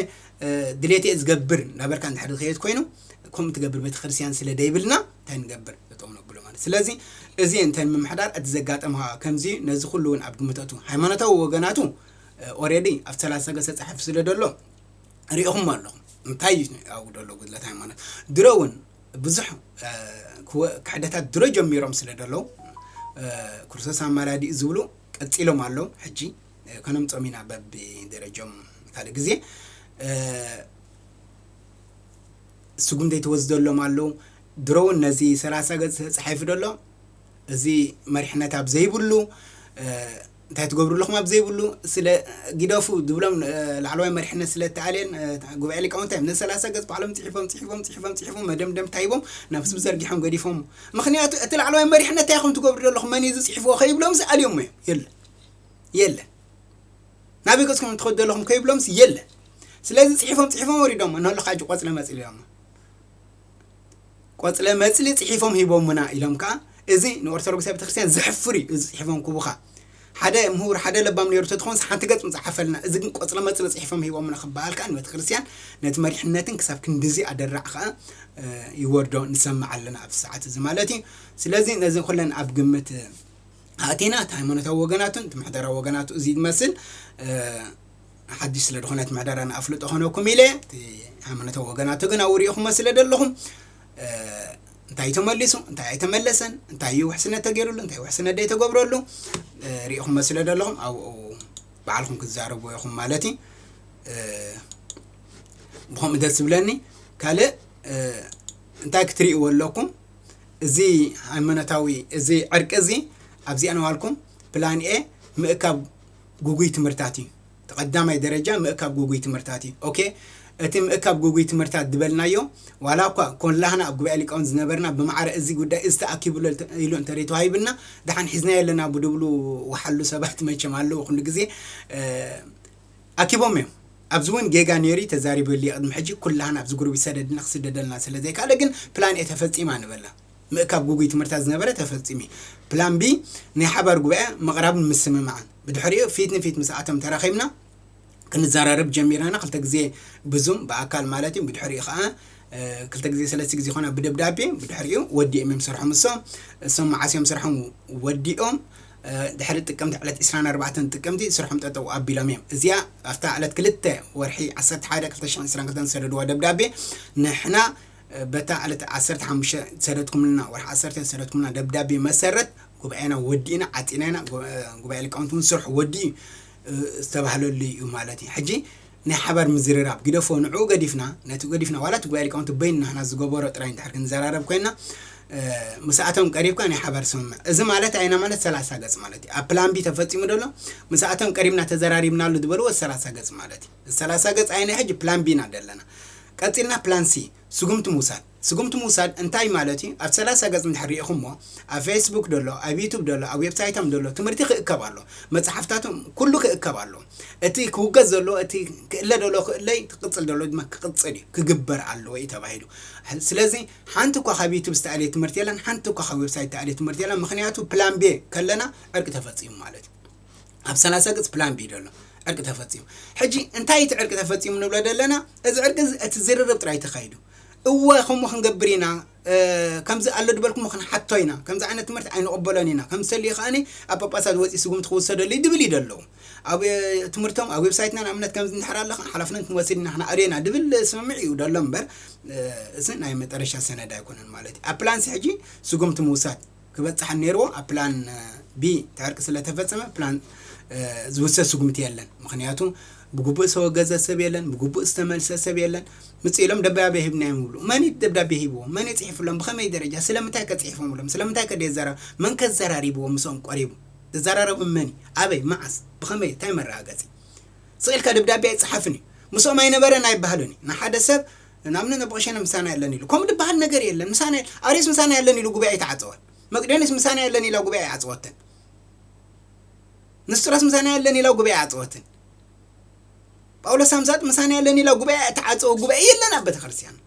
S2: ድሌተይ ዝገብር ናበልካ እንድሕር ዝኸየድ ኮይኑ ከምኡ ትገብር ቤተክርስትያን ስለ ደይብልና እንታይ ንገብር ጠጠው ነብሎ ማለት ስለዚ እዚ እንተ ምምሕዳር እቲ ዘጋጠምኻ ከምዚ ነዚ ኩሉ እውን ኣብ ግምት ኣቱ ሃይማኖታዊ ወገናቱ ኦሬዲ ኣብ ሰላሳ ሰገ ተፃሒፉ ስለ ደሎ ሪኢኹም ኣለኹም እንታይ ኣብኡ ደሎ ጉድለት ሃይማኖት ድሮ እውን ብዙሕ ክሕደታት ድሮ ጀሚሮም ስለ ደለዉ ክርስቶስ ኣማላዲኡ ዝብሉ ቀጺሎም ኣለዉ ሕጂ ከነምጾም ኢና በብደረጆም ካልእ ግዜ ስጉም ዘይተወስደሎም ኣለዉ ድሮ እውን ነዚ ሰላሳ ገጽ ተጻሒፉ ደሎ እዚ መሪሕነት ኣብ ዘይብሉ እንታይ ትገብሩ ኣለኹም ኣብ ዘይብሉ ስለ ግደፉ ዝብሎም ላዕለዋይ መሪሕነት ስለ ተኣልየን ጉባኤ ሊቃውንቲ እዮም ነዚ ሰላሳ ገጽ ባዕሎም ጽሒፎም ጽሒፎም ጽሒፎም ጽሒፎም መደምደምታ ሂቦም ናብ ህዝቢ ዘርጊሖም ገዲፎሞ ምኽንያቱ እቲ ላዕለዋይ መሪሕነት እንታይ ኢኹም ትገብሩ ዘለኹም መን እዩ ዝጽሒፍዎ ከይብሎምሲ ኣልዮሞ እዮም የለን የለን ናበይ ገጽኩም ትኸዱ ዘለኹም ከይብሎምሲ የለን ስለዚ ጽሒፎም ጽሒፎም ወሪዶሞ ንህልኻ ሕጂ ቆጽለ መጽል ኢሎሞ ቆጽለ መጽሊ ጽሒፎም ሂቦሙና ኢሎም ከኣ እዚ ንኦርቶዶክሳዊ ቤተክርስትያን ዘሕፍር እዩ እዚ ጽሒፎም ክቡካ ሓደ ምሁር ሓደ ለባም ነይሩ ተትኾንስ ሓንቲ ገጽ ምጽሓፈልና እዚ ግን ቆጽለ መጽሊ ጽሒፎም ሂቦሙና ክበሃል ከኣ ንቤተክርስትያን ነቲ መሪሕነትን ክሳብ ክንድዚ ኣደራዕ ከኣ ይወርዶ ንሰምዕ ኣለና ኣብዚ ሰዓት እዚ ማለት እዩ ስለዚ ነዚ ኩለን ኣብ ግምት ኣእቲና እቲ ሃይማኖታዊ ወገናቱን እቲ ምሕደራዊ ወገናቱ እዚ ይመስል ሓድሽ ስለ ዝኾነት ምሕደራ ንኣፍልጦ ኾነኩም ኢለ እቲ ሃይማኖታዊ ወገናቱ ግን ኣብኡ ሪኢኹሞ ስለ ዘለኹም እንታይ እዩ ተመሊሱ እንታይ ኣይተመለሰን እንታይ እዩ ውሕስነት ተገይሩሉ እንታይ ውሕስነት ዘይተገብረሉ ሪኢኹሞ ስለ ዘለኹም ኣብኡ ባዕልኹም ክትዛረቡ ኢኹም ማለት እዩ ብከምኡ ደስ ዝብለኒ ካልእ እንታይ ክትርእይዎ ኣለኩም እዚ ሃይማኖታዊ እዚ ዕርቂ እዚ ኣብዚኣ ነዋልኩም ፕላን ኤ ምእካብ ጉጉይ ትምህርታት እዩ እቲ ቀዳማይ ደረጃ ምእካብ ጉጉይ ትምህርታት እዩ ኦኬ እቲ ምእካብ ጉጉይ ትምህርታት ድበልናዮ ዋላ እኳ ኮላህና ኣብ ጉባኤ ሊቃውንት ዝነበርና ብማዕረ እዚ ጉዳይ እዚ ተኣኪብሉ ኢሉ እንተርይ ተዋሂብና ዳሓን ሒዝናዮ ኣለና ብድብሉ ወሓሉ ሰባት መቸም ኣለው ኩሉ ግዜ ኣኪቦም እዮም ኣብዚ እውን ጌጋ ነይሩ እዩ ተዛሪበሉ እየ ቅድሚ ሕጂ ኩላህና ኣብዚ ጉርቢት ሰደድና ክስደደልና ስለ ዘይካለ ግን ፕላን ኤ ተፈጺማ ንበላ ምእካብ ግጉይ ትምህርትታት ዝነበረ ተፈጺሙ እዩ። ፕላን ቢ ናይ ሓባር ጉባኤ ምቕራብን ምስምማዕን። ብድሕሪኡ ፊት ንፊት ምስኣቶም ተራኺብና ክንዘራረብ ጀሚርና ክልተ ግዜ ብዙም ብኣካል ማለት እዩ ብድሕሪኡ ከኣ ክልተ ግዜ ሰለስተ ግዜ ኮና ብደብዳቤ ብድሕሪኡ ወዲኦም እዮም ስርሖም እሶም እሶም መዓስ እዮም ስርሖም ወዲኦም ድሕሪ ጥቅምቲ ዕለት 24 ጥቅምቲ ስርሖም ጠጠው ኣቢሎም እዮም እዚኣ ኣብታ ዕለት ክልተ ወርሒ 11 2022 ዝሰደድዋ ደብዳቤ ንሕና በታ ዕለት ዓሰርተ ሓሙሽተ ዝሰደድኩምልና፣ ወርሒ ዓሰርተ ዝሰደድኩምልና ደብዳቤ መሰረት ጉባኤና ወዲእና፣ ዓጺና ኢና፣ ጉባኤ ሊቃውንቲ እውን ስርሑ ወዲኡ እዩ ዝተባህለሉ እዩ ማለት እዩ። ሕጂ ናይ ሓባር ምዝርራብ ግደፎ፣ ንዕኡ ገዲፍና፣ ነቲ ገዲፍና ዋላ እቲ ጉባኤ ሊቃውንቲ በይኑ ናህና ዝገበሮ ጥራይ እንድሕር ክንዘራረብ ኮይንና፣ ምስኣቶም ቀሪብካ ናይ ሓባር ስምምዕ፣ እዚ ማለት ኣየናይ ማለት ሰላሳ ገጽ ማለት እዩ። ኣብ ፕላን ቢ ተፈጺሙ ዶ ኣሎ? ምስኣቶም ቀሪብና ተዘራሪብናሉ ዝበልዎ ሰላሳ ገጽ ማለት እዩ። ሰላሳ ገጽ ኣይነ ሕጂ ፕላን ቢ ኢና ደለና ቀጺልና ፕላን ሲ ስጉምቲ ምውሳድ ስጉምቲ ምውሳድ እንታይ ማለት እዩ ኣብቲ ሰላሳ ገጽ እንድሕር ሪኢኹሞ ኣብ ፌስቡክ ደሎ ኣብ ዩቱብ ደሎ ኣብ ዌብሳይቶም ደሎ ትምህርቲ ክእከብ ኣሎ መጽሓፍታቶም ኩሉ ክእከብ ኣሎ እቲ ክውገዝ ዘሎ እቲ ክእለ ደሎ ክእለ እዩ ክቅጽል ደሎ ድማ ክቅጽል እዩ ክግበር ኣለዎ እዩ ተባሂሉ ስለዚ ሓንቲ እኳ ካብ ዩቱብ ዝተኣልየ ትምህርቲ የለን ሓንቲ እኳ ካብ ዌብሳይት ዝተኣልየ ትምህርቲ የለን ምክንያቱ ፕላን ቤ ከለና ዕርቂ ተፈጺሙ ማለት እዩ ኣብ ሰላሳ ገጽ ፕላን ቢ ደሎ ዕርቂ ተፈጺሙ ሕጂ እንታይ እቲ ዕርቂ ተፈጺሙ ንብሎ ደለና እዚ ዕርቂ እቲ ዝርርብ ጥራይ ተኻይዱ እወ ከምኡ ክንገብር ኢና ከምዚ ኣሎ ድበልኩሞ ክንሓቶ ኢና ከምዚ ዓይነት ትምህርቲ ኣይንቕበሎን ኢና ከም ዝተልዩ ከዓኒ ኣብ ጳጳሳት ወፂ ስጉምቲ ክውሰደሉ እዩ ድብል እዩ ደለዉ ኣብ ትምህርቶም ኣብ ዌብሳይትና ንኣብነት ከምዚ እንድሕር ኣለካ ሓላፍነት ክንወስድ ኢና ክንኣርዮ ኢና ድብል ስምምዕ እዩ ደሎ እምበር እዚ ናይ መጠረሻ ሰነድ ኣይኮነን ማለት እዩ ኣብ ፕላንሲ ሕጂ ስጉምቲ ምውሳድ ክበጽሓን ነይርዎ ኣብ ፕላን ቢ እቲ ዕርቂ ስለ ተፈጸመ ፕላን ዝውሰድ ስጉምቲ የለን ምኽንያቱ ብግቡእ ዝተወገዘ ሰብ የለን ብግቡእ ዝተመልሰ ሰብ የለን ምጽእ ኢሎም ደብዳቤ ሂብናዮም ይብሉ መን እዩ ደብዳቤ ሂብዎም መን እዩ ጽሒፍሎም ብኸመይ ደረጃ ስለምንታይ ከ ጽሒፎምሎም ስለምንታይ ከ ደዘራ መን ከ ዘራሪብዎ ምስኦም ቆሪቡ ዘዘራረቦም መን እዩ ኣበይ መዓስ ብኸመይ እንታይ መረጋገጺ ስቕ ኢልካ ደብዳቤ ኣይጸሓፍን እዩ ምስኦም ኣይነበረን ኣይበሃልን እዩ ንሓደ ሰብ ንናምነ ነቦቀሸነ ምሳና የለን ኢሉ ከምኡ ድበሃል ነገር የለን ምሳና የለን ኣርዮስ ምሳና የለን ኢሉ ጉባኤ ኣይተዓፀወን መቅደንዮስ ምሳና የለን ኢላ ጉባኤ ኣይዓፀወትን ንስጥሮስ ምሳና የለን ኢላ ጉባኤ ዓፀወትን ጳውሎስ ሳምሳጥ ምሳና የለን ኢላ ጉባኤ ተዓፀወ ጉባኤ የለን ኣብ ቤተክርስትያን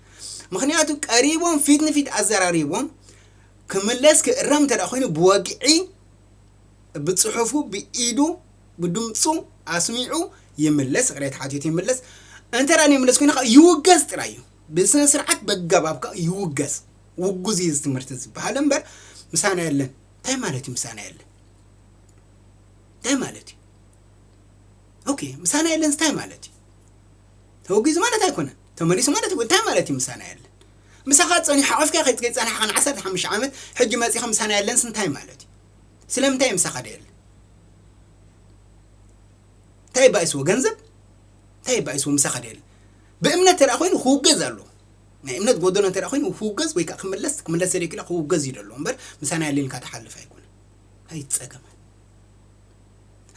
S2: ምክንያቱ ቀሪቦም ፊት ንፊት ኣዘራሪቦም ክምለስ ክእረም እንተ ኮይኑ ብወግዒ ብፅሑፉ ብኢዱ ብድምጹ ኣስሚዑ ይምለስ ይቕሬታ ሓቲቱ ይምለስ እንተ ደኣ ዘይምለስ ኮይኑ ከኣ ይውገዝ ጥራይ እዩ ብስነ ስርዓት በጋባብ ከኣ ይውገዝ ውጉዝ እዩ እዚ ትምህርቲ ዝበሃል እምበር ምሳና የለን እንታይ ማለት እዩ ምሳና የለን እንታይ ማለት እዩ ኦኬ ምሳና የለን እንታይ ማለት እዩ ተወጊዙ ማለት ኣይኮነን ተመሊሱ ማለት እንታይ ማለት እዩ ምሳና የለን ምሳኻ ፀኒሑ ሓቐፍካ ከይፀናሕኻ ን ዓሰርተ ሓሙሽተ ዓመት ሕጂ መፂኻ ምሳና የለንስ እንታይ ማለት እዩ ስለምንታይ እዩ ምሳኻ ደየለ እንታይ ባይስዎ ገንዘብ እንታይ ባይስዎ ምሳኻ ደል ብእምነት ተደኣ ኮይኑ ክውገዝ ኣሎ ናይ እምነት ጎደሎ እንተ ኮይኑ ክውገዝ ወይ ከዓ ክምለስ ክምለስ ዘደኪላ ክውገዝ እዩ ደሎ እምበር ምሳና ያሌልካ ተሓልፍ ኣይኮነ ኣይ ፀገማት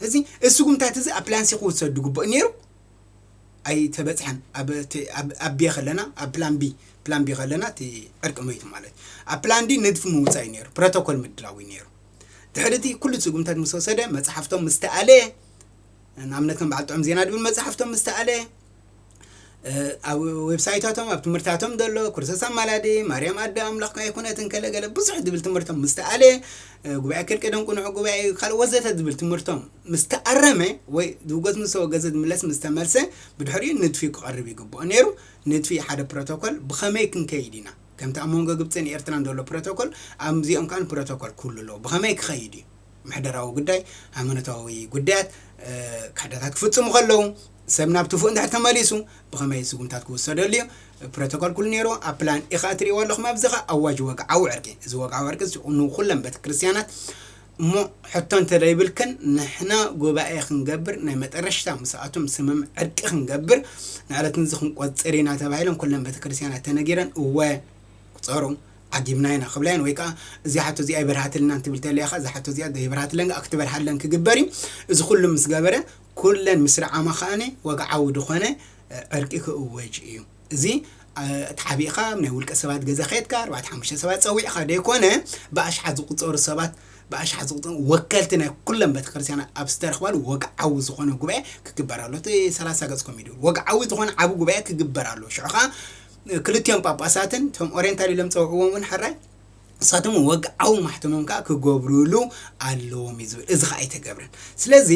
S2: እዚ እስጉምታት እዚ ኣብ ፕላንሲ ክውሰዱ ግቡእ ነይሩ ኣይተበፅሐን ኣብ ቢ ከለና ኣብ ፕላን ቢ ፕላን ቢ ከለና እቲ ዕርቂ መይቱ ማለት እዩ ኣብ ፕላን ዲ ንድፊ ምውፃእ እዩ ነይሩ ፕሮቶኮል ምድላው እዩ ነይሩ ድሕሪ እቲ ኩሉ ስጉምታት ምስ ወሰደ መጽሓፍቶም ምስ ተኣለየ ንኣብነት ከም በዓል ጥዑም ዜና ድብል መጽሓፍቶም ምስ ተኣለየ ኣብ ዌብሳይታቶም ኣብ ትምህርታቶም ዘሎ ኩርሰሳ ማላዲ ማርያም ኣደ ኣምላኽ ኣይኮነት እንከለገለ ብዙሕ ዝብል ትምህርቶም ምስ ተኣለ ጉባኤ ክል ቅደም ቁንዑ ጉባኤ እዩ ካልእ ወዘተ ዝብል ትምህርቶም ምስ ተኣረመ ወይ ዝውገዝ ምስ ተወገዘ ዝምለስ ምስ ተመልሰ ብድሕሪኡ ንድፊ ክቐርብ ይግብኦ ነይሩ ንድፊ ሓደ ፕሮቶኮል ብኸመይ ክንከይድ ኢና ከምቲ ኣብ መንጎ ግብጽን ኤርትራን ዘሎ ፕሮቶኮል ኣብዚኦም ከኣ ፕሮቶኮል ክህሉ ኣለዎ። ብኸመይ ክኸይድ እዩ? ምሕደራዊ ጉዳይ፣ ሃይማኖታዊ ጉዳያት፣ ክሕደታት ክፍጽሙ ከለዉ፣ ሰብ ናብ ትፉእ እንድሕር ተመሊሱ ብኸመይ ስጉምታት ክውሰደሉ እዩ? ፕሮቶኮል ክህሉ ነይርዎ። ኣብ ፕላን ኤ ከኣ እትርእይዎ ኣለኹም ኣብዚ ከኣ ኣዋጅ ወግዓዊ ዕርቂ። እዚ ወግዓዊ ዕርቂ እዚ ንኹለን ቤተ ክርስትያናት እሞ ሕቶ እንተደይብልክን ንሕና ጉባኤ ክንገብር ናይ መጠረሽታ ምስኣቶም ስምም ዕርቂ ክንገብር ንዕለት ንዚ ክንቆጽር ኢና ተባሂለን ኩለን ቤተክርስትያናት ተነጊረን እወ ቁጸሩ ዓጊብና ኢና ክብላ እየን ወይ ከዓ እዚኣ ሓቶ እዚኣ ይበርሃትልናን ትብል ተለያ ከዓ እዛ ሓቶ እዚኣ ዘይበርሃትለን ከዓ ክትበርሃለን ክግበር እዩ እዚ ኩሉ ምስ ገበረ ኩለን ምስ ረዓማ ከዓኒ ወግዓዊ ድኾነ ዕርቂ ክእወጅ እዩ እዚ ተሓቢእኻ ኣብ ናይ ውልቀ ሰባት ገዛ ከድካ ኣርባዕተ ሓሙሽተ ሰባት ጸዊዕኻ ዘይኮነ ብኣሽሓት ዝቑጸሩ ሰባት ብኣሽሓት ዝቑጸሩ ወከልቲ ናይ ኩለን ቤተክርስትያናት ኣብ ዝተረኽባሉ ወግዓዊ ዝኾነ ጉባኤ ክግበር ኣሎ። እቲ ሰላሳ ገጽ ኮሚድዩ ወግዓዊ ዝኾነ ዓቢ ጉባኤ ክግበር ኣሎ። ሽዑ ከኣ ክልቲኦም ጳጳሳትን እቶም ኦሪየንታል ኢሎም ጸውዕዎም እውን ሕራይ ንሳቶም ወግዓዊ ማሕተሞም ከኣ ክገብሩሉ ኣለዎም እዩ ዝብል እዚ ከኣ ኣይተገብረን። ስለዚ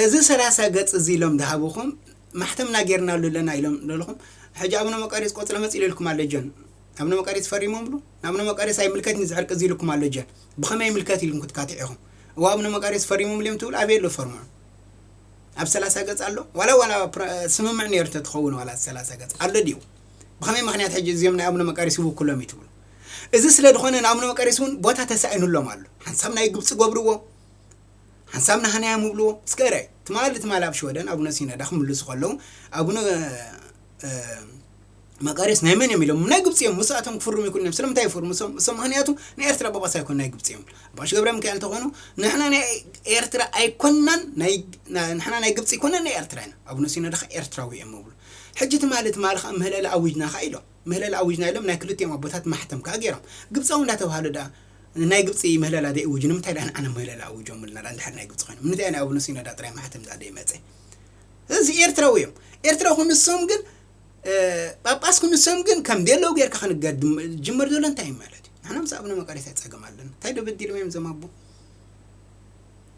S2: እዚ ሰላሳ ገጽ እዚ ኢሎም ዝሃብኹም ማሕተምና ጌርናሉ ኣለና ኢሎም ዶ ኢልኩም ሕጂ ኣቡነ መቃርዮስ ቆጽሊ መጺሉ ኢልኩም ኣሎ ጆን ኣቡነ መቃርዮስ ፈሪሞምሉ ንኣቡነ መቃርዮስ ኣይምልከትንዩ እዚ ዕርቂ እዚ ኢልኩም ኣሎ ጆን ብከመይ ይምልከት ኢልኩም ክትካትዑ ኢኩም እወ ኣቡነ መቃርዮስ ፈሪሞምሉ እዮም ትብሉ ኣበይ ኣሎ ፈርሙ ኣብ ሰላሳ ገጽ ኣሎ ዋላ ዋላ ስምምዕ ነይሩ ተትኸውን ዋላ ሰላሳ ገጽ ኣሎ ድዩ ብከመይ ምክንያት ሕጂ እዚኦም ናይ ኣቡነ መቃርዮስ ይውክሎም እዩ ትብሉ እዚ ስለ ድኾነ ንኣቡነ መቃርዮስ እውን ቦታ ተሳኢኑሎም ኣሎ ሓንሳብ ናይ ግብፂ ገብርዎ ሓንሳብ ንሃናያ ምብልዎ እስከ እርኣይ ትማሊ ትማሊ ኣብ ሽወደን ኣቡነ ሲነዳ ክምልሱ ከለዉ ኣቡነ መቃርዮስ ናይ መን እዮም ኢሎም ናይ ግብጺ እዮም ምስኣቶም ክፍርሙ ይክእሉ እዮም ስለምንታይ ይፍርሙ እሶም ምክንያቱ ናይ ኤርትራ ጳጳስ ኣይኮን ናይ ግብጺ እዮም ኣባሽ ገብረ ሚካኤል እንተኾኑ ንሕና ናይ ኤርትራ ኣይኮናን ንሕና ናይ ግብጺ ኣይኮናን ናይ ኤርትራ ኢና ኣቡነ ሲኖዳ ከዓ ኤርትራዊ እዮም ምብሉ ሕጂ ትማሊ ትማሊ ከዓ ምህለላ ኣዊጅና ከዓ ኢሎም ምህለላ ኣዊጅና ኢሎም ናይ ክልቲኦም ኣቦታት ማሕተም ከዓ ገይሮም ግብፃዊ እንዳተባሃሉ ደኣ ንናይ ግብጺ ምህለላ ዘይእውጁ ንምንታይ ድኣ ንዓና ምህለላ ኣዊጆምልና ድኣ እንድሕር ናይ ግብጺ ኮይኖም ንምንታይ ናይ ኣቡነ ሲኖዳ ጥራይ ማሕተም ድኣ ዘይመጸ እዚ ኤርትራዊ እዮም ኤርትራዊ ክንሶም ግን ጳጳስ ክንሶም ግን ከም ደለው ጌርካ ክንገር ጅመር ዘሎ እንታይ እዩ ማለት እዩ ንሕና ምስ ኣቡነ መቃሪታ ጸገም ኣለና እንታይ ዶ በዲሎም እዮም ዘማቦ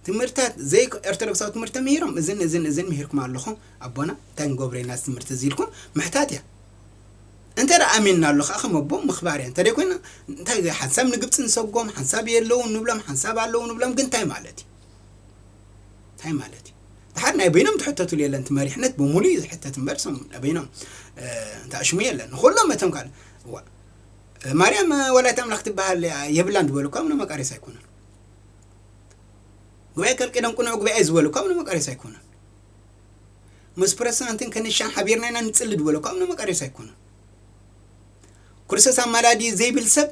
S2: ትምህርታት ዘይ ኦርቶዶክሳዊ ትምህርቲ ምሂሮም እዝን እዝን እዝን ምሂርኩም ኣለኹም ኣቦና እንታይ ንገብሮ ኢና ትምህርቲ እዚ ኢልኩም ምሕታት እያ እንተ ደኣ ኣሚንናሉ ከኣ ከም ኣቦ ምኽባር እያ እንተደይ ኮይና እንታይ እዚ ሓንሳብ ንግብጺ ንሰጎም ሓንሳብ የለውን ንብሎም ሓንሳብ ኣለዉ ንብሎም ግን እንታይ ማለት እዩ እንታይ ማለት እዩ ድሓር ናይ በይኖም ትሕተትሉ የለን እቲ መሪሕነት ብምሉእ እዩ ዝሕተት እምበር ሶም ናይ በይኖም እንተኣሽሙ የለን ንኩሎም እቶም ካል ማርያም ወላይት ኣምላኽ ትበሃል የብላን ዝበሉ እኳ ምነ መቃሬስ ኣይኮነን ጉባኤ ከልቂዶም ቅኑዕ ጉባኤ ዝበሉ እኳ ምነ መቃሬስ ኣይኮነን ምስ ፕረሲዳንትን ከንሻን ሓቢርና ኢና ንጽሊ ድበሎ ካብ ንመቀሬስ ኣይኮነን ክርስቶስ ኣማላዲ ዘይብል ሰብ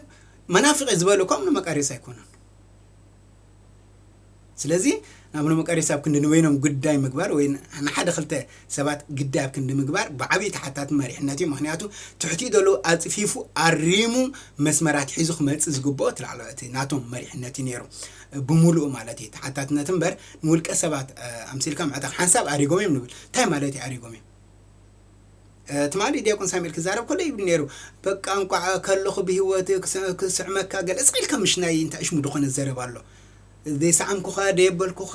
S2: መናፍቂ ዝበሎ ካብ ንመቀሬስ ኣይኮነን ስለዚ ናብ ንመቀሬስ ኣብ ክንዲ ንበይኖም ጉዳይ ምግባር ወይ ንሓደ ክልተ ሰባት ግዳይ ኣብ ክንዲ ምግባር ብዓብዪ ተሓታቲ መሪሕነት እዩ ምክንያቱ ትሕቲኡ ዘሎ ኣፅፊፉ ኣሪሙ መስመራት ሒዙ ክመፅእ ዝግብኦ እቲ ላዕለዋይ እቲ ናቶም መሪሕነት እዩ ነይሩ ብምሉኡ ማለት እዩ ተሓታትነት እምበር ንውልቀ ሰባት ኣምሲልካ ምዕጣቕ ሓንሳብ ኣሪጎም እዮም ንብል እንታይ ማለት እዩ ኣሪጎም እዮም ትማሊ ዲያቆን ሳሙኤል ክዛረብ ከሎ ይብል ነይሩ በቃ እንቋዕ ከለኹ ብሂወት ክስዕመካ ገለጽ ኢልካ ምሽ ናይ እንታይ እሽሙ ዝኾነ ዘረባ ኣሎ ዘይሰዓምኩኻ ደየበልኩኻ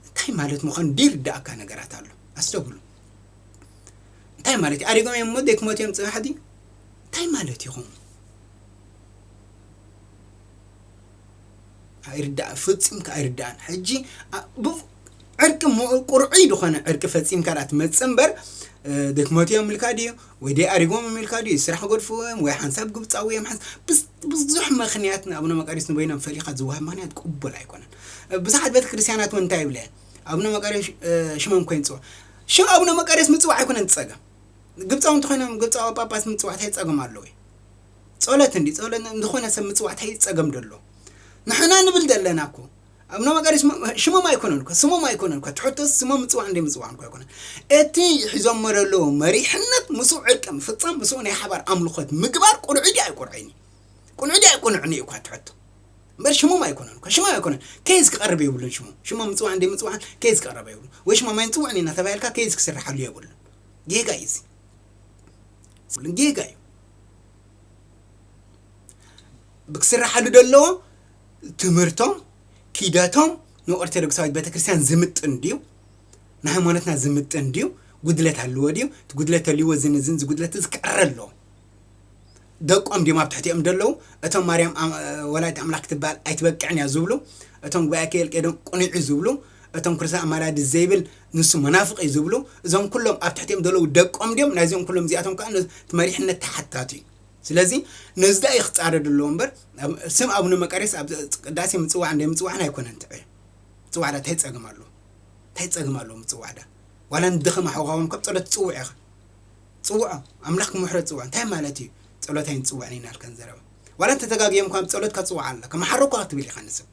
S2: እንታይ ማለት ምዃኑ ደይርዳእካ ነገራት ኣሎ ኣስተብሉ እንታይ ማለት እዩ ኣሪጎም እዮም እሞ ዘይክመት እዮም ፅባሕ ድዩ እንታይ ማለት ይኹም ኣይርዳእ ፈጺምካ ኣይርዳእን ሕጂ ኣ- ብ- ዕርቂ ሞ- ቁርዒ ዝኾነ ዕርቂ ፈጺምካ ዳኣ ትመጽ እምበር እ፣ ድክመቱ እዮም ኢልካ ድዩ ወይ ደይ ኣሪጎም እዮም ኢልካ ድዩ ስራሕ ገድፍዎ እዮም ወይ ሓንሳብ ግብጻዊ እዮም ሓንስ- ብዝ- ብዙሕ ምክንያት ንኣብነ መቃርዮስ ንበይኖም ፈሊኻ ዝወሃብ ምክንያት ቅቡል ኣይኮነን እ፣ ብዙሓት ቤተ ክርስትያናት እውን እንታይ ይብላ እየን ኣብነ መቃርዮስ እ፣ ሽሞም ኮይን ጽዋዕ ሽም ኣብነ መቃርዮስ ምጽዋዕ ኣይኮነን እቲ ጸገም ግብጻዊ እንተኾይኖም ግብጻዊ ጳጳስ ምጽዋዕ እንታይ ጸገም ኣለዎ እዩ ጾለት እንዲ ጾለት ንዝኮነ ሰብ ምጽዋዕ ታይ ጸገም ዶ ኣሎ ንሕና ንብል ዘለና እኮ ኣብነ መቃርዮስ ሽሞም ኣይኮነን እኮ ስሞም ኣይኮነን እኮ ትሕቶስ ስሞም ምጽዋዕን ዘይምጽዋዕን እኮ ኣይኮነን እቲ ሒዞሞ ዘለዉ መሪሕነት ምስኡ ዕርቂ ምፍጻም ምስኡ ናይ ሓባር ኣምልኾት ምግባር ቁኑዕ ድዩ ኣይቁኑዕን እዩ ቁኑዕ ድዩ ኣይቁኑዕን እዩ እኳ እቲ ሕቶ እምበር ሽሞም ኣይኮነን እኮ ሽሞም ኣይኮነን ኬዝ ክቐርብ የብሉን ሽሞም ሽሞም ምጽዋዕን ዘይምጽዋዕን ኬዝ ክቐረበ የብሉን ወይ ሽሞም ኣይንጽውዕን ኢና ተባሂልካ ኬዝ ክስርሓሉ የብሉን ጌጋ እዩ እዚ ጌጋ እዩ ክስራሓሉ ዘለዎ ትምህርቶም ኪደቶም ንኦርቶዶክሳዊት ቤተክርስትያን ዝምጥን ድዩ ንሃይማኖትና ዝምጥን ድዩ ጉድለት ኣለዎ ድዩ እቲ ጉድለት ተልዎ ዝን ዝን ዝጉድለት እዚ ክዕረ ኣለዎ ደቆም ድዮም ኣብ ትሕቲኦም ደለዉ እቶም ማርያም ኣም- ወላዲት ኣምላክ ትበሃል ኣይትበቅዕን እያ ዝብሉ እቶም ጉባኤ ኬልቄዶን ቁኒዑ ዝብሉ እቶም ክርስቶስ ኣማላዲ ዘይብል ንሱ መናፍቕ እዩ ዝብሉ እዞም ኩሎም ኣብ ትሕቲኦም ዘለዉ ደቆም ድዮም ናይዞም ኩሎም እዚኣቶም ከዓ እቲ መሪሕነት ተሓታቱ እዩ ስለዚ ነዚ ዳኣ እዩ ክፃረድ ኣለዎ እምበር ስም ኣቡነ መቃርዮስ ኣብ ቅዳሴ ምፅዋዕን ዘይምፅዋዕን ኣይኮነን ትዕዮ ምፅዋዕ ዳ እንታይ ፀገም ኣለዎ እንታይ ፀገም ኣለዎ ምፅዋዕ ዳ ዋላ ንድኸም ኣሕዋኻውን ካብ ፀሎት ትፅውዕ ኢኻ ፅውዖ ኣምላኽ ክምሕረት ፅውዖ እንታይ ማለት እዩ ፀሎት ኣይንፅውዕን ኢና ልከን ዘረባ ዋላ እንተተጋግዮም እኳ ፀሎት ከፅውዓ ኣላ ከመሓረኳ ክትብል ኢኻ ንስብ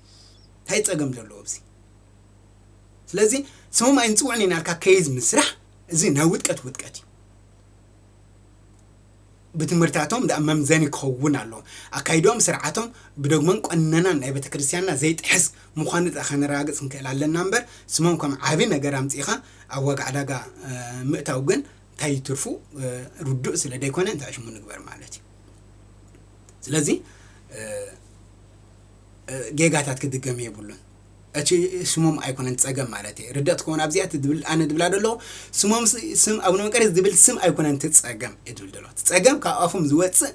S2: እንታይ ፀገም ዘለዎ ኣብዚ ስለዚ ስሞም ኣይንፅውዕን ኢና ኢልካ ኬዝ ምስራሕ እዚ ናይ ውድቀት ውድቀት እዩ። ብትምህርታቶም ደኣ መምዘኒ ክኸውን ኣለዎ። ኣካይድኦም ስርዓቶም ብዶግማን ቈነናን ናይ ቤተ ክርስቲያንና ዘይጥሕስ ምዃኑ ደኣ ከነረጋግጽ ክንክእል ኣለና እምበር ስሞም ከም ዓቢ ነገር ኣምጺእኻ ኣብ ዋጋ ዕዳጋ ምእታው ግን እንታይ እዩ ትርፉ ርዱእ ስለ ዘይኮነ እንታይ ሽሙ ንግበር ማለት እዩ። ስለዚ ጌጋታት ክድገም የብሉን። እቺ ስሞም ኣይኮነን ጸገም ማለተይ ርድእት ክኮን ኣብዚኣ እቲ ድብል ኣነ ድብላ ደለኩ ስሞም ስም ኣቡነ መቀርየስ ድብል ስም ኣይኮነን እቲ ጸገም እየ ድብል ደለኩ እቲ ጸገም ካብ ኣፎም ዝወጽእ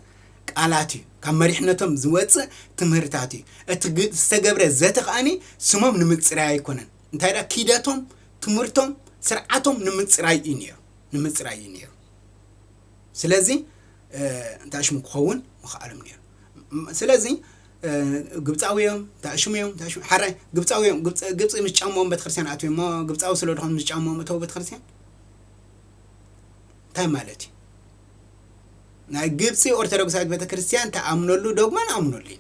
S2: ቃላት እዩ ካብ መሪሕነቶም ዝወጽእ ትምህርታት እዩ እቲ ዝተገብረ ዘተ ከኣኒ ስሞም ንምጽራይ ኣይኮነን እንታይ ደኣ ኪደቶም ትምህርቶም ስርዓቶም ንምጽራይ እዩ ነይሩ ንምጽራይ እዩ ነይሩ ስለዚ እንታሽሙ ክኸውን ምኽኣሎም ነይሩ። ስለዚ ግብፃዊ እዮም እንታሽሙ እዮም እንታሽሙ ሓራይ ግብፃዊ እዮም ግብፂ ግብፂ ምስ ጫሞኦም ቤተክርስትያን ኣትዮም እሞ ግብፃዊ ስለ ድኾኑ ምስ ጫሞኦም እተው ቤተክርስትያን እንታይ ማለት እዩ? ናይ ግብፂ ኦርቶዶክሳዊት ቤተክርስትያን ተኣምነሉ ዶግማ ንኣምነሉ እዩ።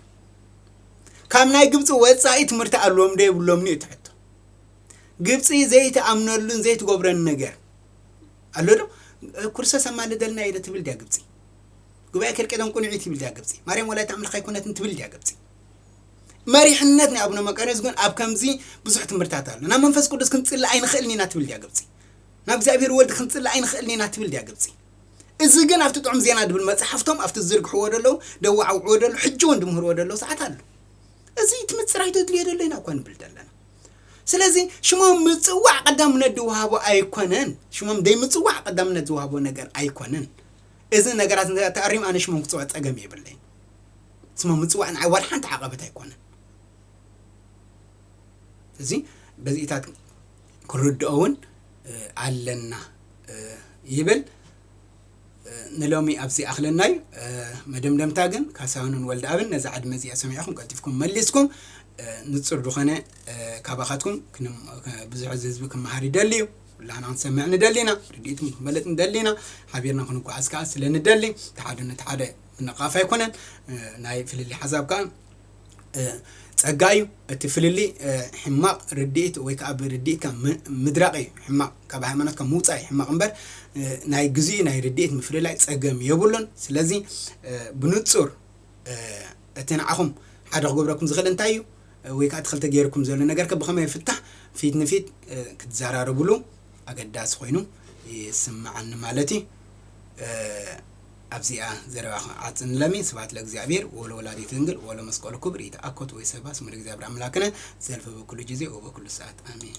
S2: ካብ ናይ ግብፂ ወፃኢ ትምህርቲ ኣለዎም ዶ የብሎምን እዩ እቲ ሕቶ። ግብፂ ዘይትኣምነሉን ዘይትገብረን ነገር ኣሎ ዶ ኩርሰስ ኣማልደልና ኢለ ትብል ድያ ግብጺ ጉባኤ ከልቄዶን ቁንዒት ይብል ድያ ግብጺ ማርያም ወላዲት ኣምላኽ ኣይኮነትን ትብል ድያ ግብጺ መሪሕነት ናይ ኣቡነ መቃርዮስ ግን ኣብ ከምዚ ብዙሕ ትምህርታት ኣሎ ናብ መንፈስ ቅዱስ ክንጽሊ ኣይንኽእልን ኢና ትብል ድያ ግብጺ ናብ እግዚኣብሔር ወልድ ክንጽሊ ኣይንኽእልን ኢና ትብል ድያ ግብጺ እዚ ግን ኣብቲ ጥዑም ዜና ድብል መጽሓፍቶም ኣብቲ ዝዝርግሕዎ ደለዉ ደዋዓውዕዎ ደለዉ ሕጂ እውን ድምህርዎ ደለዉ ሰዓት ኣሎ እዚ እቲ ምጽራይ ተድልዮ ደሎ ኢና እኳ ንብል ዘለና ስለዚ ሽሞም ምጽዋዕ ቀዳምነት ዝወሃቦ ኣይኮነን። ሽሞም ዘይምጽዋዕ ቀዳምነት ዝወሃቦ ነገር ኣይኮነን። እዚ ነገራት እንተ ተኣሪሙ ኣነ ሽሞም ክጽዋዕ ጸገም የብለይን። ስሞም ምጽዋዕ ንዓይ ዋላ ሓንቲ ዓቐበት ኣይኮነን። እዚ በዚኢታት ክንርድኦውን ኣለና ይብል። ንሎሚ ኣብዚ ይኣኽለና እዩ። መደምደምታ ግን ካሳሁንን ወልደኣብን ነዛ ዕድመ እዚኣ ሰሚዕኹም ቀልጢፍኩም መሊስኩም ንጹር ዝኾነ ካባኻትኩም ብዙሕ እዚ ህዝቢ ክመሃር ይደሊ እዩ ኩላና ክንሰምዕ ንደሊ ኢና ርድኢትኩም ክንበለጥ ንደሊ ኢና ሓቢርና ክንጓዓዝ ከዓ ስለ ንደሊ ተሓደ ነቲ ሓደ ምንቕቓፍ ኣይኮነን ናይ ፍልልይ ሓሳብ ከዓ ጸጋ እዩ እቲ ፍልሊ ሕማቅ ርዲኢት ወይ ከኣ ብርዲኢትካ ምድራቅ እዩ ሕማቅ ካብ ሃይማኖትካ ምውጻእ እዩ ሕማቅ እምበር ናይ ግዝኡ ናይ ርዲኢት ምፍልላይ ጸገም የብሉን ስለዚ ብንጹር እቲ ንዓኹም ሓደ ክገብረኩም ዝኽእል እንታይ እዩ ወይ ከዓ እቲ ክልተ ገይርኩም ዘሎ ነገር ከ ብኸመይ ይፍታሕ ፊት ንፊት ክትዘራረብሉ ኣገዳሲ ኮይኑ ይስምዓኒ ማለት እዩ ኣብዚኣ ዘረባ ክንዓጽ ንለሚ፣ ስብሐት ለእግዚኣብሔር ወለወላዲቱ ድንግል ወለመስቀሉ ክቡር ይትአኮት ወይሰባ ስሙ ለእግዚኣብሔር አምላክነ ዘልፈ በኩሉ ጊዜ ወበኩሉ ሰዓት አሜን።